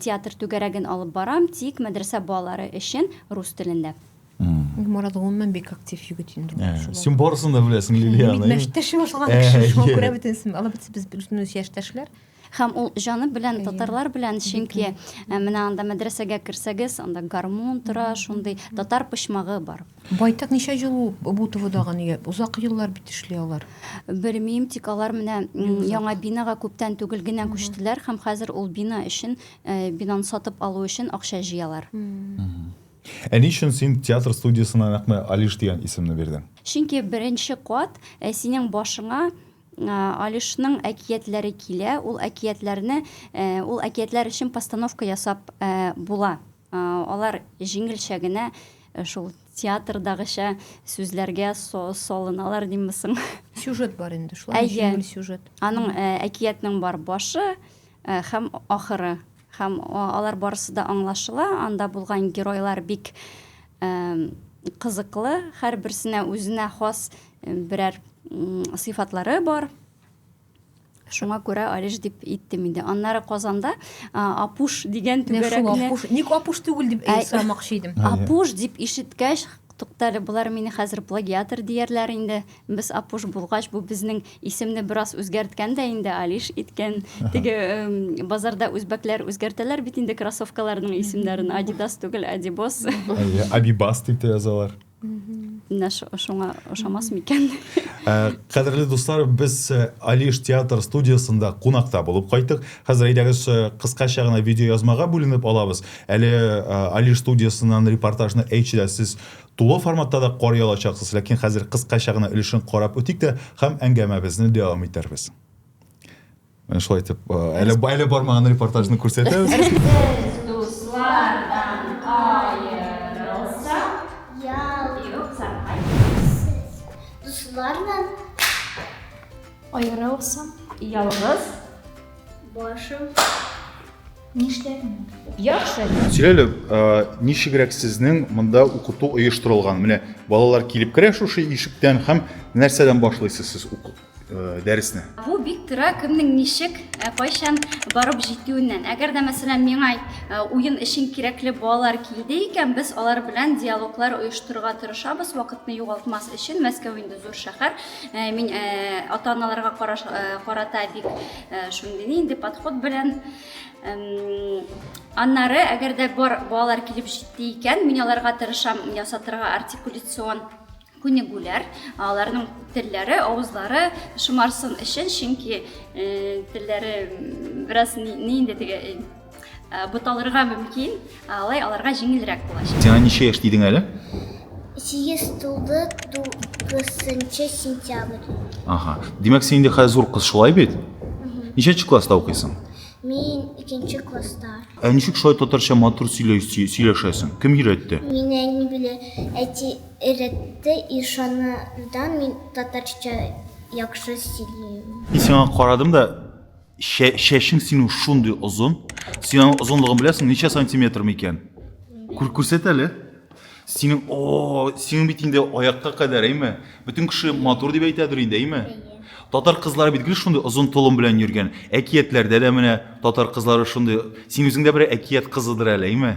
театр түгәрәген алып барам, тик мәдрәсә балалары өчен рус телендә. Мурат гомумән бик актив егет инде. Ә, син барысын да беләсең, Лилияна. Мин мәштәш башлаган кеше, шуңа күрә бөтенсен. Алар бит без бөтенебез яшьтәшләр. Һәм ул җаны белән татарлар белән, чөнки ә, менә анда мәдрәсәгә керсәгез, анда гармун тора, шундый татар почмагы бар. Байтак ничә ел ул бу ТВдагы нигә? Озак еллар бит эшли алар. Белмим, тик алар менә м, яңа бинага күптән түгел генә күчтеләр һәм хәзер ул бина өчен, э, бинаны сатып алу өчен акча җыялар. Ә ни өчен син театр студиясенә нәкъ Алиш дигән исемне бирдең? Чөнки беренче кат синең башыңа Алишның әкиятләре килә, ул әкиятләрне, ул әкиятләр өчен постановка ясап була. Алар җиңелчә генә шул театрдагыча сүзләргә салыналар димме соң. Сюжет бар инде, шулай җиңел сюжет. Әйе, аның әкиятнең бар башы һәм ахыры. Һәм алар барысы да аңлашыла, анда булган геройлар бик кызыклы, һәрберсенә үзенә хас берәр сыйфатлары бар. Шуңа күрә Алиш дип иттем инде. Аннары Казанда Апуш дигән түгәрәкне... Ник Апуш түгел дип сорамакчы идем. Апуш дип ишеткәч, туктале, болар мине хәзер плагиатор диярләр инде. Без Апуш булгач, бу безнең исемне бераз үзгәрткән дә инде, Алиш иткән. Теге базарда үзбәкләр үзгәртәләр бит инде кроссовкаларның исемнәрен. Адидас түгел, Адибос. Абибас дип тә язалар. Менә шуңа ошамас микән? Э, кадерле дуслар, без э, Алиш театр студиясендә кунакта булып кайттык. Хәзер әйдәгез э, кыскача гына видеоязмага бүленеп алабыз. Әле Алиш студиясеннән репортажны әйтчедә сез Тулы форматта да карый алачаксыз, ләкин хәзер кыскача гына өлешен карап үтик тә һәм әңгәмәбезне дәвам итәрбез. Менә шулай итеп, әле, әле бармаган репортажны күрсәтәбез. Аерылсам, ялгыз башым. Нишләдең? Яхшы. Сөйләле, ничегрәк сезнең монда укыту оештырылган? Менә балалар килеп керә шушы ишектән һәм нәрсәдән башлыйсыз сез уку дәресне? Бу бик тора кемнең ничек, кайчан барып җитүеннән. Әгәр дә мәсәлән миңа уен өчен кирәкле балалар килде икән, без алар белән диалоглар оештырырга тырышабыз, вакытны югалтмас өчен. Мәскәү инде зур шәһәр. Мин ата-аналарга карата бик Э, шундый нинди подход белән аннары әгәр дә бар балалар килеп җитте икән мин аларга тырышам ясатырга артикуляцион күнегүләр аларның телләре авызлары шомарсын өчен чөнки э, телләре бераз нинди теге Э, буталырга мөмкин, алай аларга җиңелрәк булачак. Сиңа ничә яшь дидең әле? 8 тулды 9 сентябрь. Ага. Димәк, син инде хәзер зур кыз шулай бит? Ничәнче класста укыйсың? Мин икенче класста. Ә ничек шулай татарча матур сөйләшәсең? Кем өйрәтте? Мин әни белә әти өйрәтте, ишанырдан мин татарча яхшы сөйлим. Мин сиңа карадым да чәчең синең шундый озын син аның озынлыгын беләсең ничә сантиметр микән күрсәт әле синең о синең бит инде аякка кадәр әйме бөтен кеше матур дип әйтәдер инде әйме татар кызлары бит гел шундый озын толым белән йөргән әкиятләрдә дә менә татар кызлары шундый син үзең дә бер әкият кызыдыр әле әйме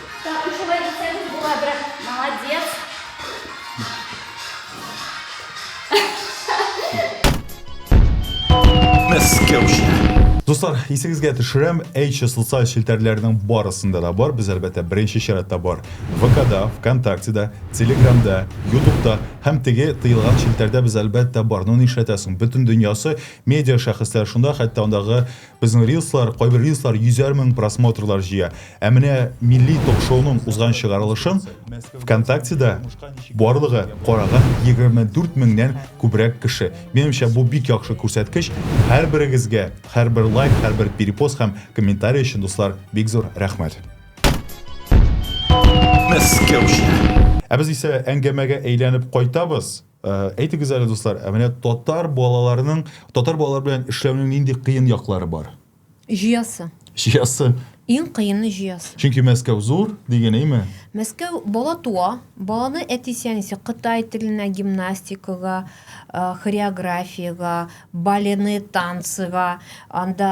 Так, и шулай итсәгез була, брат. Молодец. Дуслар, исегезгә төшерәм, H социаль челтәрләренең барысында да бар. Без әлбәттә беренче чиратта бар. ВКда, ВКонтактеда, Телеграмда, Ютубта һәм теге тыелган челтәрдә без әлбәттә бар. Ну нишләтәсең? Бөтен дөньясы медиа шәхесләр шунда, хәтта андагы Безнең рилслар, кайбер рилслар йөзәр мең просмотрлар җыя. Ә менә милли ток-шоуның узган чыгарылышын ВКонтактеда барлыгы караган 24 меңнән күбрәк кеше. Минемчә, бу бик яхшы күрсәткеч. Һәрберегезгә, һәрбер лайк, һәрбер перепост һәм комментарий өчен, дуслар, бик зур рәхмәт! Мәскәүче. Ә без исә әңгәмәгә әйләнеп кайтабыз. Э, әйтегез әле, дуслар, ә менә татар балаларының, татар балалар белән эшләүнең нинди кыен яклары бар? Җыясы. Җыясы. Иң кыены җыясы. Чөнки Мәскәү зур дигән, әйме? Мәскәү бала туа, баланы әтисе әнисе Кытай теленә, гимнастикага, э, хореографиягә, балены, танцыга, анда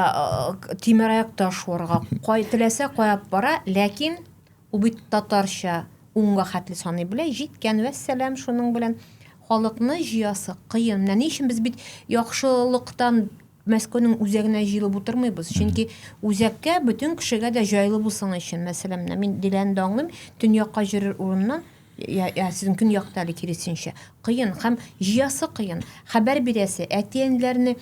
э, тимер аякта шуарга, кай теләсә кая бара, ләкин Ул бит татарча унга хәтле саный белә, җиткән, вәссәлам, шуның белән халыкны җыясы кыен. Менә ни өчен без бит яхшылыктан Мәскәүнең үзәгенә җыелып утырмыйбыз. Чөнки үзәккә бөтен кешегә дә җайлы булсын өчен, мәсәлән, менә мин Диләне дә аңлыйм, төньякка җөрер урыннан я, я сезнең көньякта әле киресенчә кыен һәм җыясы кыен. Хәбәр бирәсе, әти-әниләрне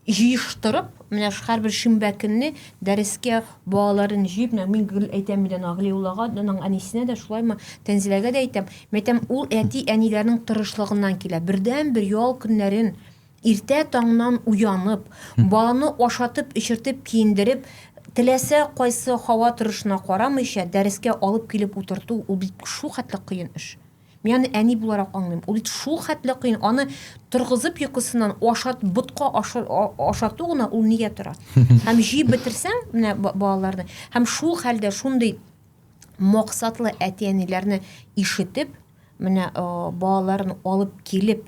җыештырып, менә һәрбер шимбә көнне дәрескә балаларын җыеп, менә мин гел әйтәм бит аны Аглиуллага, аның әнисенә дә шулаймы, Тәнзиләгә дә әйтәм. Мин әйтәм, ул әти-әниләрнең тырышлыгыннан килә. Бердәнбер ял көннәрен иртә таңнан уянып, баланы ашатып-эчертеп, киендереп, теләсә кайсы һава торышына карамыйча, дәрескә алып килеп утырту, ул бит шулхәтле кыен эш. Мин аны әни буларак аңлыйм. Ул бит шул хәтле кыен. Аны торгызып йокысыннан ашат, ботка ашату гына ул нигә тора? Һәм җыеп бетерсәң, менә балаларны, һәм шул хәлдә шундый максатлы әти-әниләрне ишетеп, менә балаларын алып килеп,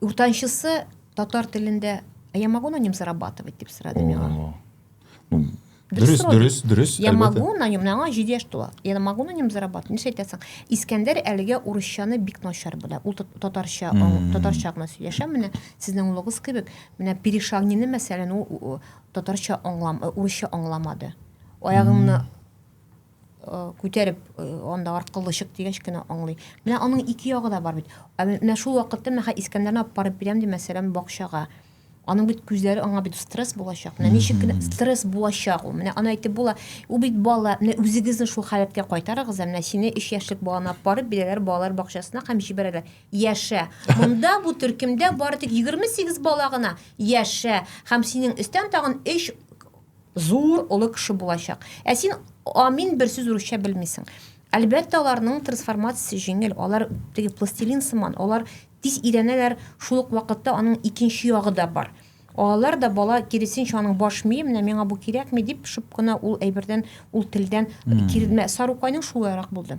Уртанчысы татар телендә а я могу на нем зарабатывать дип сорады миңа. Ну, дөрес, дөрес, дөрес. Я могу на нем, миңа 7 яшь тула. Я могу на нем зарабатывать. Нишләп әйтәсең? Искәндәр әлегә урысчаны бик начар белә. Ул татарча, татарча гына сөйләшә. Менә сезнең улыгыз кебек, менә перешагнины мәсәлән, ул татарча аңлам, урысча аңламады. Аягыңны күтәреп анда аркылы чык дигәч кенә аңлый. Менә аның ике ягы да бар бит. Ә менә шул вакытта менә хә Искәндәрне алып барып бирәм ди мәсәлән бакчага. Аның бит күзләре аңа бит стресс булачак. Менә ничек кенә стресс булачак ул. Менә аны әйтеп була. Ул бит бала, менә үзегезне шул халәткә кайтарыгыз, ә менә сине 3 яшьлек баланы алып барып бирәләр балалар бакчасына һәм җибәрәләр. Яшә. Монда бу төркемдә бары тик 28 бала гына. Яшә. Һәм синең өстән тагын 3 Зур, олы кеше булачак. Ә син амин бер сүз урысча белмисең. Әлбәттә, аларның трансформациясе җиңел. Алар теге пластилин сыман, алар тиз өйрәнәләр, шул ук вакытта аның икенче ягы да бар. Алар да бала киресенчә аның баш мие, менә миңа бу кирәкми дип, шып кына ул әйбердән, ул телдән кирелмә. Сарукайның шулайрак булды.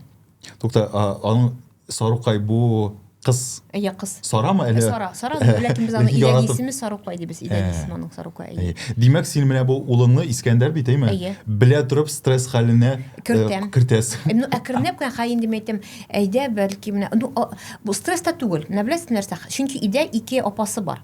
Тукта, аның Сарукай бу кыз. Әйе, кыз. Сарамы әле? Сара, Сара, ләкин без аны идән исеме Сарукай дибез, идән э. исеме аның Сарукай. Э. Димәк, син менә бу улыңны Искәндәр бит, әйме? Әйе. Белә торып стресс хәленә э, кертәм. Кертәс. Ну, әкренләп кенә хаин дим әйтәм. Әйдә, бәлки менә, ну, бу стресс та түгел. Менә беләсез нәрсә? Чөнки өйдә ике апасы бар.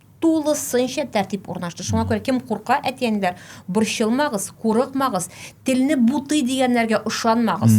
тулысынча тәртип урнашты. Шуңа күрә кем курка, әти-әниләр, борчылмагыз, курыкмагыз, телне бутый дигәннәргә ышанмагыз.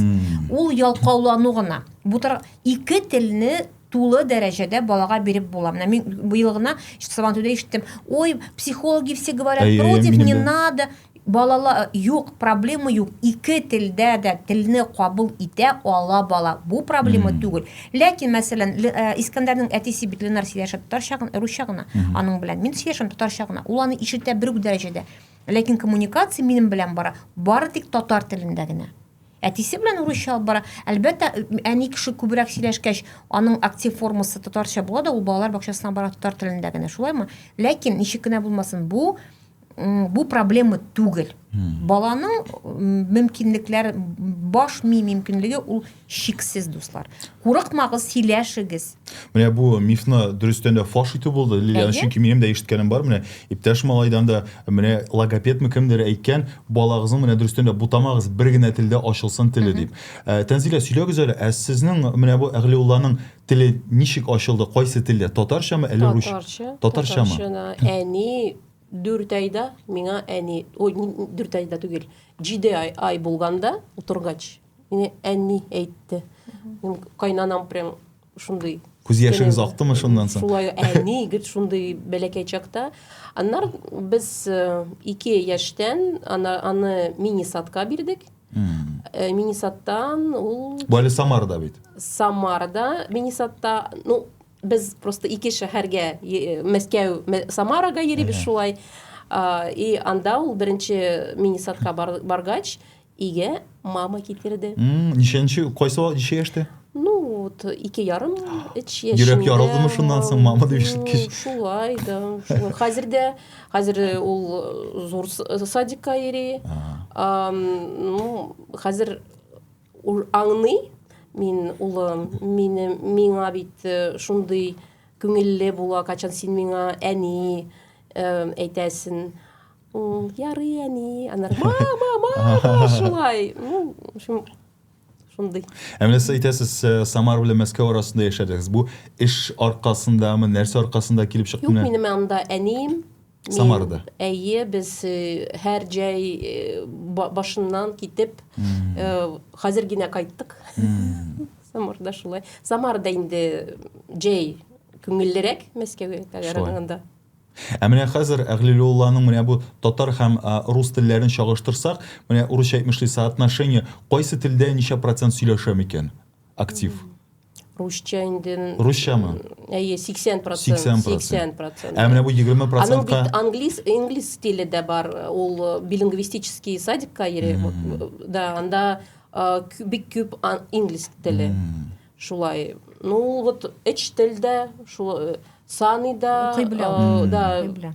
Ул ялкаулану гына. Бу тар ике телне тулы дәрәҗәдә балага биреп була. Менә мин быел гына Сабантуйда ишеттем. Ой, психологи все говорят против, не надо. Балала, юк, проблема юк, ике телдә дә телне кабул итә ала бала, бу проблема түгел. Ләкин, мәсәлән, э, Искәндәрнең әтисе бит Ленар сөйләшә татарча гына, русча гына, аның белән мин сөйләшәм татарча гына, ул аны ишетә бер үк дәрәҗәдә. Ләкин коммуникация минем белән бара, бары тик татар телендә генә. Әтисе белән русча алып бара. Әлбәттә, әни кеше күбрәк сөйләшкәч, аның актив формасы татарча була да, ул балалар бакчасына бара татар телендә генә, шулаймы? Ләкин ничек кенә булмасын, бу Бу проблема түгел. Баланың мөмкинлекләр баш ми мөмкинлеге ул шиксез дуслар. Курыкмагыз, сөйләшегез. Менә бу мифны дөрестән дә фаш итү булды. Лилиан, чөнки минем дә ишеткәнем бар. Менә иптәш малайдан да менә логопедмы кемдер әйткән, балагызның менә дөрестән дә бутамагыз, бер генә телдә ачылсын теле дип. Ә, Тәнзилә, сөйләгез әле, ә сезнең менә бу Әгълиулланың теле ничек ачылды, кайсы телдә? Татарчамы, әле русча? Татарча. Татарчамы? Татарча. Әни Дүрт айда миңа әни, ой, дүрт айда түгел, җиде ай, ай булганда утыргач, миңа әни әйтте. Мин кайнанам прям шундый Күз яшегез актымы шуннан соң? Шулай әни егет шундый бәләкәй чакта. Аннар без э, ике яшьтән ана, аны мини садка бирдек. Э, мини садтан ул... Бу әле Самарда бит. Самарда мини садта, ну, Без просто ике шәһәргә, Мәскәү, Самарага йөрибез шулай. И анда ул беренче мини-садка баргач, иге мама китерде. Ничәнче, кайсы вакыт ничә яшьтә? Ну, вот ике ярым эч яшендә. Йөрәк ярылдымы шуннан соң мама дип ишеткәч? Шулай да. Хәзер дә, хәзер ул э, зур садикка йөри. Ну, хәзер Ул аңный, мин улым, мине миңа бит э, шундый күңелле була, качан син миңа әни э, әйтәсен. Ул ярый әни, анар мама, мама, шулай. Ну, в общем, шундый. Ә менә сез әйтәсез, э, Самар белән Мәскәү арасында яшәдегез. Бу эш аркасындамы, нәрсә аркасында килеп чыкты? Юк, минем анда әнием, Самарада. Әйе, без һәр җәй башыннан китеп, хәзер генә кайттык. Самарда шулай. Самарда инде җәй күңеллерәк Мәскәүгә караганда. Ә менә хәзер Әгълилулланың менә бу татар һәм рус телләрен чагыштырсак, менә урысча әйтмешли соотношение, кайсы телдә ничә процент сөйләшә микән? актив русча инде русчамы әйе сиксән процент сиксән процент ә менә бу егерме процентка аның бит англис инглиз стиле дә бар ул э, билингвистический садикка йөри да анда э, бик күп инглиз теле шулай ну вот эч телдә шул э, саный да укый белә да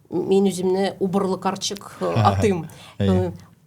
Мин үземне убырлы карчык атыйм.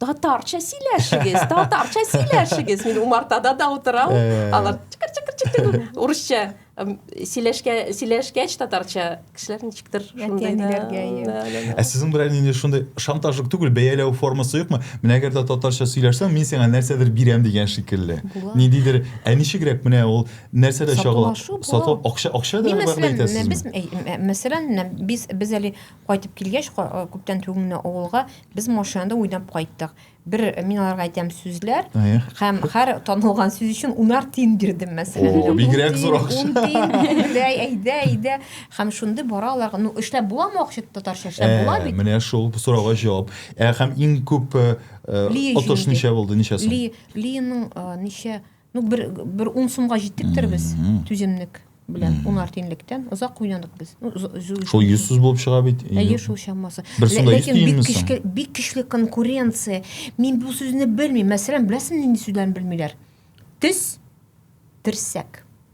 Татарча сөйләшегез, татарча сөйләшегез. Мин умартада да утырам. Алар чыкыр-чыкыр-чыкыр урысча сөйләшкә сөйләшкәч татарча кешеләр ничектер шундый да. Ә сезнең белән нинди шундый шантажлык түгел, бәяләү формасы юкмы? Менә әгәр дә татарча сөйләшсәң, мин сиңа нәрсәдер бирәм дигән шикелле. Ниндидер, ә ничегрәк менә ул нәрсә дә чагыла сату акча акча да мәсәлән әйтәсезме? без э, мәсәлән без без әле кайтып килгәч э, күптән түгел менә авылга без машинада уйнап кайттык бер э, мин аларга әйтәм сүзләр һәм һәр танылган сүз өчен унар тиен бирдем мәсәлән бигрәк зур акча әйдә әйдә әйдә һәм шундый бара аларга ну эшләп буламы акча татарча эшләп була бит менә шул сорауга җавап һәм иң күп отыш ничә булды ничә сум линың ничә Ну, бер, бер ун сумга җиттектер без түземлек белән ун артинлектән озак уйнадык без. Ну, шул 100 сүз булып чыга бит. Әйе, шул чамасы. Бер сумда 100 тиенме соң? Бик көчле конкуренция. Мин бу сүзне белмим. Мәсәлән, беләсең нинди сүзләрне белмиләр? Тез, терсәк.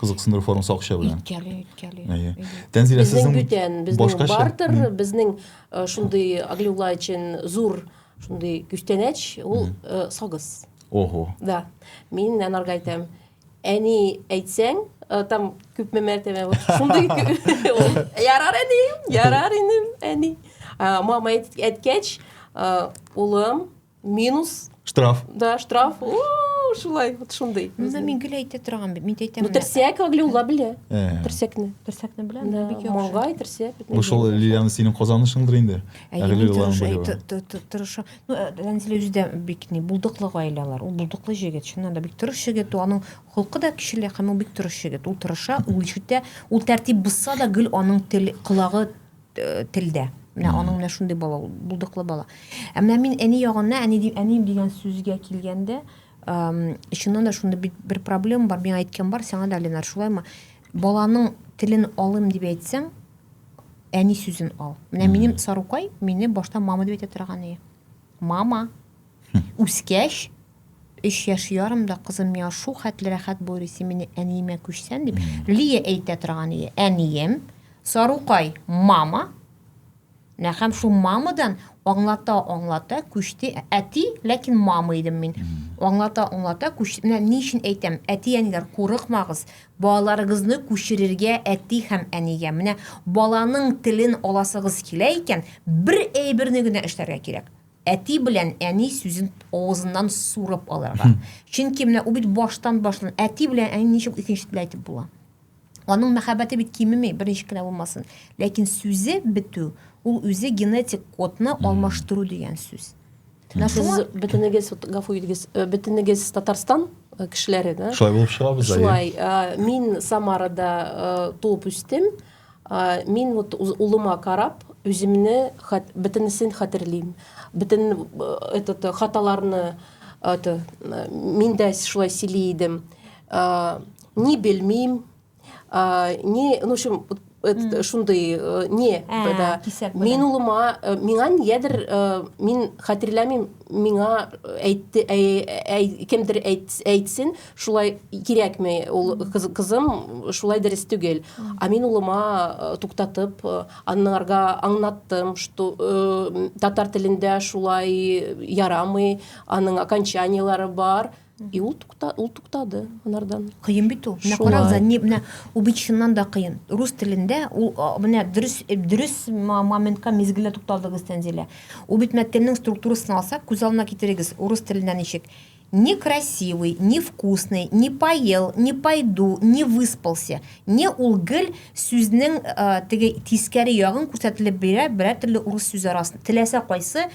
кызыксындыру формасы акча белән үткәли үткәли әйе тәнзилә сезнең бүтән безнең бартер безнең э, шундый аглюла өчен зур шундый күчтәнәч ул э, сагыз ого да мин анарга әйтәм әни әйтсәң э, там күпме мәртәбә шундый ярар әни ярар инем әни мама әткәч улым Минус. Штраф. Да, штраф. О, шулай, вот шундый. Мына мин гел әйтә торган бит, мин әйтәм. Ну, терсәк Аглюла белә. Э. Терсәкне. Терсәкне беләм, да, бик яхшы. Маңгай, терсәк. Бу шул Лилиана синең казанышыңдыр инде. Аглюлалар белә. Тырыша. Ну, Ләнзилә үзе дә бик ни, булдыклы гаиләләр. Ул булдыклы җегет, чыннан да бик тырыш егет, аның холкы да кешеле, һәм ул бик тырыш егет. Ул тырыша, ул ишетә, ул тәртип бозса да гел аның тел, колагы э, телдә. Менә mm. аның менә шундый бала ул, булдыклы бала. Ә менә мин әни ягына, әни дип, әнием дигән сүзгә килгәндә, чыннан да шунда бит бер проблема бар. Мин әйткән бар, сиңа да Ленар шулаймы? Баланың телен алым дип әйтсәң, әни сүзен ал. Менә минем Сарукай мине башта мама дип әйтә торган иде. Мама, Үскәч, өч яшь ярымда кызым миңа шул хәтле рәхәт булыр исе мине әниемә күчсән, дип, Лия әйтә торган иде. Әнием, Сарукай, мама, нә һәм шул мамадан аңлата-аңлата күчте. Әти, ләкин мама идем мин. Аңлата-аңлата күчте. Менә ни өчен әйтәм, әти-әниләр, курыкмагыз, балаларыгызны күчерергә әти һәм әнигә. Менә баланың телен аласыгыз килә икән, бер әйберне генә эшләргә кирәк. Әти белән әни сүзен авызыннан сурып алырга. Чөнки менә ул бит баштан башлан әти белән әни ничек икенче теле әйтеп була. Аның мәхәббәте бит кимеми, берничек кенә булмасын. Ләкин сүзе бетү, ул үзе генетик кодны алмаштыру дигән сүз. Менә Сез шуңа бөтенегез, вот, гафу итегез, э, бөтенегез Татарстан э, кешеләре, да? Шулай булып чыгабыз, әйе. Шулай. Э, Мин Самарада э, туып үстем. Мин вот улыма карап, үземне хат, бөтенесен хәтерлим. Бөтен этот хаталарны это мин дә шулай сөйли идем. Ни белмим, ни, ну, в общем, это шундый не да. Мин улыма, миңа нигәдер мин хәтерләмим, миңа әйтте, кемдер әйтсен, шулай кирәкми ул кыз, кызым шулай дөрес түгел а мин улыма э, туктатып э, аннарга аңнаттым что э, татар телендә шулай ярамый аның окончаниелары бар и ул тукта ул туктады анардан кыен бит ул менә карагыз не менә ул бит чыннан да кыен рус телендә ул менә дөрес э, дөрес моментка мизгелдә тукталдыгыз тәнзилә ул бит мәткәннең структурасын алсак күз алдына китерегез урыс телендә ничек Не красивый, не вкусный, не поел, не пойду, не выспался, не ул гел сүзнең теге тискәре ягын күрсәтелеп бирә берәр төрле урыс сүзе арасында, теләсә кайсы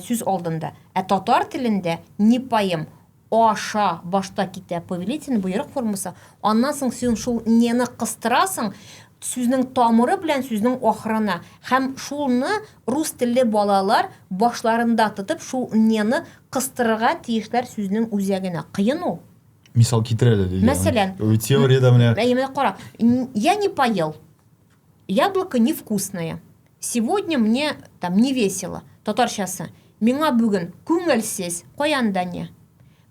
сүз алдында. Ә татар телендә не поем, аша башта китә повелительный боерык формасы, аннан соң син шул нены кыстырасың сүзнең тамыры белән сүзнең ахырына һәм шулны рус телле балалар башларында тотып шул нены Кыстырырга тиешләр сүзнең үзәгенә. Кыен ул. Мисал китер әле, Лилия. Мәсәлән. Теориядә менә. Әйе, менә кара. Я не поел. Яблоко невкусное. Сегодня мне там не весело. Татарчасы. Миңа бүген күңелсез. Каянда не?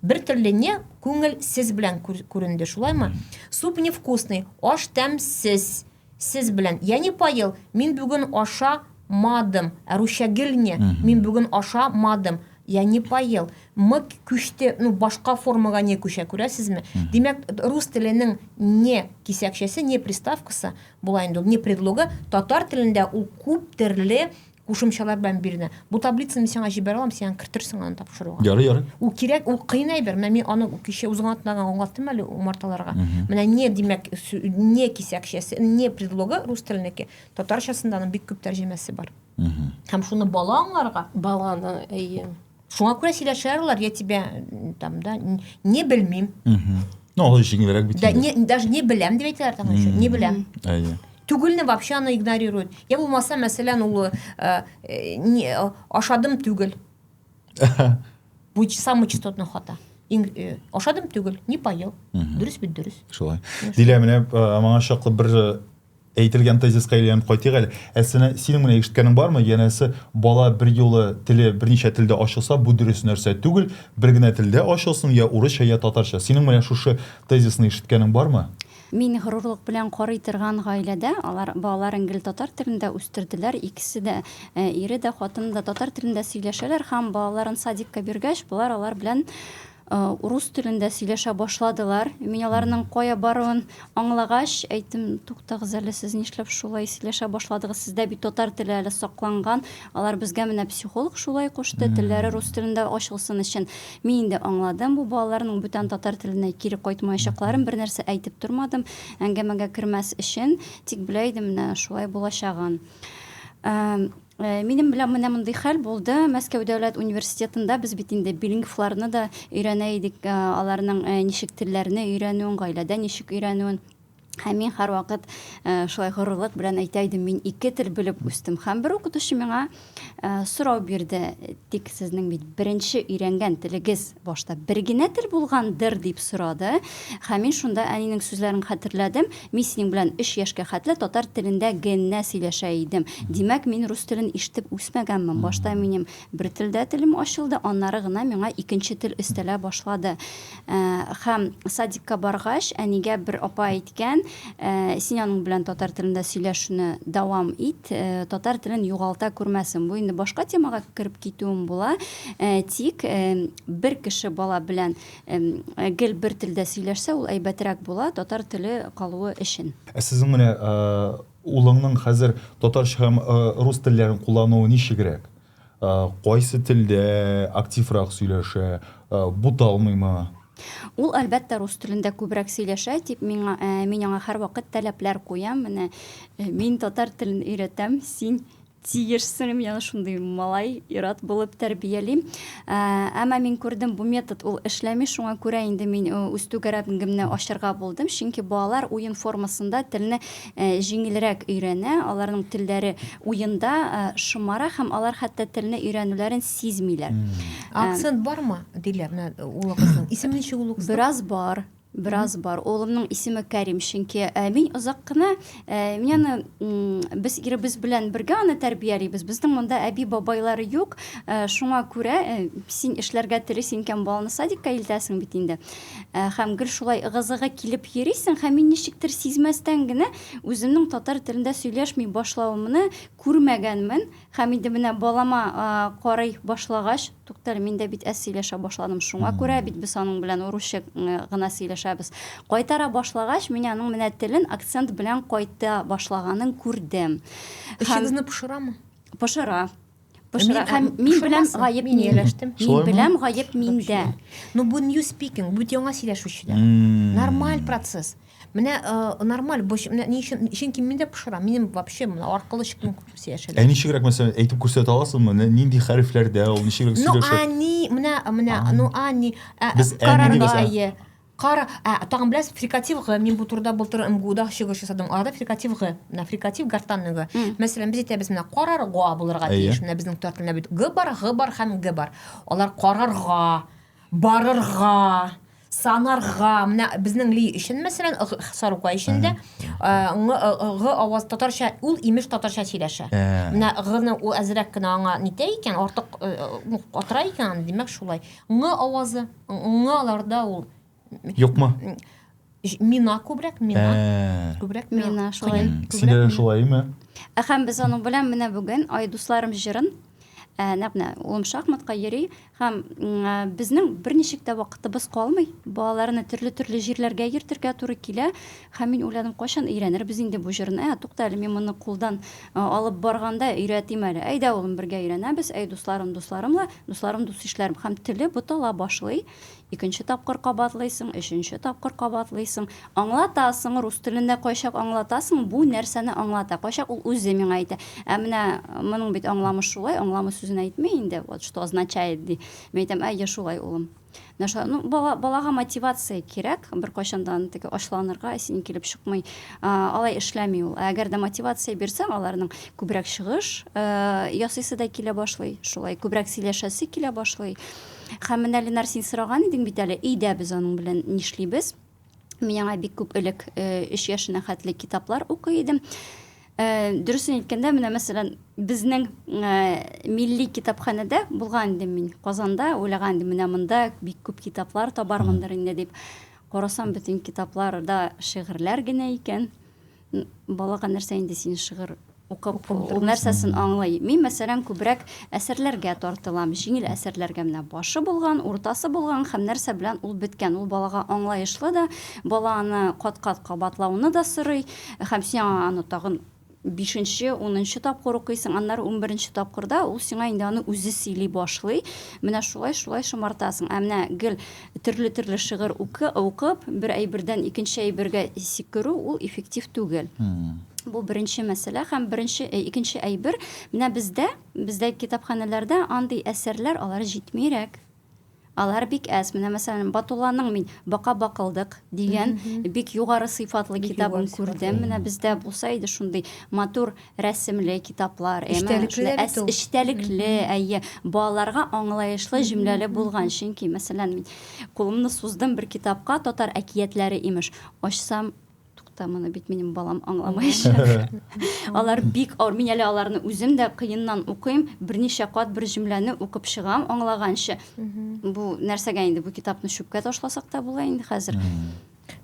Бер төрле не күңелсез белән күренде, шулаймы? Суп невкусный. Аш тәмсез. Сез белән. Я не поел, мин бүген аша ма дым. Ә русча гельне, мин бүген аша ма дым. Я не поел. Мы күчте, ну, башка формага не күчә, күрәсезме? Димәк, рус теленең не кисәкчәсе, не приставкасы, була инде ул, не предлогы, татар телендә ул күп төрле кушымчалар белән бирелә бу таблицаны мин сиңа җибәрә алам сиңа кертерсең аны тапшыруга ярый ярый ул кирәк ул кыен әйбер менә мин аны кичә үзең атлаган аңлаттым әле умарталарга менә не димәк не кисәкчәсе не предлогы рус теленеке татарчасында аның бик күп тәрҗемәсе бар һәм шуны бала аңларга баланы әйе Шуңа күрә сөйләшә алалар, я тебя там, да, не белмим. Ну, алай җиңелрәк бит. Да, не, даже не беләм дип әйтәләр там еще, не беләм. Әйе. Түгелне вообще аны игнорируют. Я булмаса, мәсәлән, ул э, э, не, э, ашадым түгел. Бу самый частотный хата. Иң, э, ашадым түгел, не поел. Дөрес бит, дөрес. Шулай. Дилә, менә э, моңа чаклы бер Әйтелгән тезиска әйләнеп кайтыйк әле. Әсенә, синең менә ишеткәнең бармы? Янәсе, бала бер юлы теле берничә телдә ачылса, бу дөрес нәрсә түгел, бер генә телдә ачылсын, я урысча, я татарча. Синең менә шушы тезисны ишеткәнең бармы? Мин горурлык белән карый торган гаиләдә, алар балаларын гел татар телендә үстерделәр, икесе дә, ире дә, хатыны да татар телендә сөйләшәләр һәм балаларын садикка биргәч, болар алар белән, урус телендә сөйләшә башладылар. Мин аларның кая баруын аңлагач, әйттем, туктагыз әле, сез нишләп шулай сөйләшә башладыгыз? Сездә бит татар теле әле сакланган. Алар безгә менә психолог шулай кушты, телләре рус телендә ачылсын өчен. Мин инде аңладым, бу балаларның бүтән татар теленә кире кайтмаячакларын, бер нәрсә әйтеп тормадым, әңгәмәгә кермәс өчен, тик белә идем менә шулай булачагын. Минем белән менә мондый хәл булды. Мәскәү дәүләт университетында без бит инде билингвларны да өйрәнә идек, аларның ничек телләрне өйрәнүен, гаиләдә ничек өйрәнүен. Һәм мин һәрвакыт шулай горурлык белән әйтә идем, мин ике тел белеп үстем. Һәм бер укытучы миңа сорау бирде, Тик сезнең бит беренче өйрәнгән телегез башта бер генә тел булгандыр, дип сорады. Һәм мин шунда әнинең сүзләрен хәтерләдем, Мин синең белән өч яшькә хәтле татар телендә генә сөйләшә идем. Димәк, мин рус телен ишетеп үсмәгәнмен. Башта минем бер телдә телем ачылды, аннары гына миңа икенче тел өстәлә башлады. Хәм садикка баргач, әнигә бер апа әйткән, син аның белән татар телендә сөйләшүне дәвам ит, татар телен югалта күрмәсен. Бу инде башка темага кереп китүем була. Тик бер кеше бала белән гел бер телдә сөйләшсә, ул әйбәтрәк була, татар теле калуы өчен. Ә сезнең менә улыңның хәзер татарча һәм рус телләрен куллануы ничегрәк? Ә, кайсы телдә активрак сөйләшә? Ә, буталмыймы? Ул, әлбәттә, рус телендә күбрәк сөйләшә, тик миңа, ә, мин аңа һәрвакыт тәләпләр куям. Менә, ә, мин татар телен өйрәтәм, син тиешсең, мин аны шундый малай, ир-ат булып тәрбиялим. Ә, әмма мин күрдем, бу метод ул эшләми, шуңа күрә инде мин үз түгәрәгемне ачарга булдым, чөнки балалар уен формасында телне җиңелрәк өйрәнә, аларның телләре уенда шомара һәм алар хәтта телне өйрәнүләрен сизмиләр. Акцент бармы, диләр, менә улыгызның исеме ничек улыгызның? Бераз бар, бераз бар. Улымның исеме Кәрим, чөнки мин озак кына, мин аны, без иребез белән бергә аны тәрбиялибез. Безнең монда әби-бабайлар юк, шуңа күрә син эшләргә телисең икән, баланы садикка илтәсең бит инде. Ә, һәм гел шулай ыгы-зыгы килеп йөрисең, һәм мин ничектер сизмәстән генә үземнең татар телендә сөйләшми башлавымны күрмәгәнмен, һәм инде менә балама а, карый башлагач, туктале, мин дә бит әз сөйләшә башладым, шуңа күрә бит без аның белән урысча гына сөйләшәбез. Кайтара башлагач, мин аның менә телен акцент белән кайта башлаганын күрдем. Эчегезне пошырамы? Пошыра. пошыра һәм мин беләм гаеп мин ияләштем мин беләм гаеп миндә но бу new speaking бу яңа сөйләшүчеләр нормаль процесс менә э, нормаль бу менә ни өчен чөнки мин дә пошыра минем вообще менә аркылы чыккан сөйләшәләр ә ничегрәк мәсәлән әйтеп күрсәтә аласызмы нинди хәрефләрдә ул ничегрәк сөйләшә ну они менә менә ну они э, без карарга Кара, ә, тагын беләсез, фрикатив г, мин бу турыда былтыр МГУда чыгыш ясадым. Арада фрикатив г, менә фрикатив гортанный г. Мәсәлән, без әйтәбез, менә карар га булырга тиеш. Менә безнең татар телендә бит г бар, г бар һәм г бар. Алар карарга, барырга, санарга, менә безнең ли өчен, мәсәлән, сарукай өчен дә ң г аваз татарча, ул имеш татарча сөйләшә. Менә гны ул әзрәк кенә аңа нитә икән, артык катыра икән, димәк шулай. Ң авазы. Аңа аларда ул Юкмы? мина күбрәк, мина. Ә. Күбрәк мина шулай. Синдә шулаймы? Ә һәм без аның белән менә бүген ай дусларым җырын ә, нәкъ менә улым шахматка йөри һәм безнең берничек тә вакытыбыз калмый. Балаларны төрле-төрле җирләргә йөртергә туры килә. Һәм мин уйладым, кайчан өйрәнербез инде бу җырны? Ә, тукта әле, мин моны кулдан алып барганда өйрәтим әле. Әйдә, улым, бергә өйрәнәбез. Әй, дусларым, дусларым ла, дусларым, дус-ишләрем. Һәм теле бутала башлый. Икенче тапкыр кабатлыйсың, өченче тапкыр кабатлыйсың. Аңлатасың, рус телендә кайчак аңлатасың, бу нәрсәне аңлата, кайчак ул үзе миңа әйтә. Ә менә моның бит аңламы шулай, аңламы сүзен әйтми инде, вот что означает, ди. Мин әйтәм, әйе, шулай, улым. нәрсә ну бала балага мотивация кирәк беркайчан да аны теге ачуланырга синең килеп чыкмый алай эшләми ул ә әгәр дә мотивация бирсәң аларның күбрәк чыгыш ясыйсы да килә башлый шулай күбрәк сөйләшәсе килә башлый һәм менә ленар син сораган идең бит әле өйдә без аның белән нишлибез Мин аңа бик күп элек, э, өч яшенә хәтле китаплар укый идем. Э, дөресен әйткәндә, менә мәсәлән, безнең э, милли китапханәдә булган идем мин Казанда, уйлаган идем, менә монда бик күп китаплар табармындыр инде дип. Карасам, бөтен китапларда шигырьләр генә икән. балага нәрсә инде син шыгыр укып ул нәрсәсен аңлый мин мәсәлән күбрәк әсәрләргә тартылам җиңел әсәрләргә менә башы булган уртасы булган һәм нәрсә белән ул беткән ул балага аңлаешлы да бала аны кат кат кабатлауны да сорый һәм син аны тагын бишенче унынчы тапкыр укыйсың аннары унберенче тапкырда ул сиңа инде аны үзе сөйли башлый менә шулай шулай шомартасың ә менә гел төрле-төрле шигырь укып, бер әйбердән икенче әйбергә сикерү ул эффектив түгел. Бу беренче мәсьәлә һәм беренче э, икенче әйбер, менә бездә, бездә китапханәләрдә андый әсәрләр алар җитмирәк. Алар бик әз. Менә мәсәлән, Батулланың мин Бака бакылдык дигән бик югары сыйфатлы китабын күрдем. Менә бездә булса иде шундый матур рәсемле китаплар, эчтәлекле, эчтәлекле, әйе, балаларга аңлаешлы, җөмләле булган. Чөнки, мәсәлән, мин кулымны суздым бер китапка, татар әкиятләре имеш, ачсам, тукта, моны бит минем балам аңламаячак. Алар бик авыр, мин әле аларны үзем дә кыеннан укыйм, берничә кат бер җөмләне укып чыгам аңлаганчы. Бу нәрсәгә инде бу китапны чүпкә ташласак та була инде хәзер.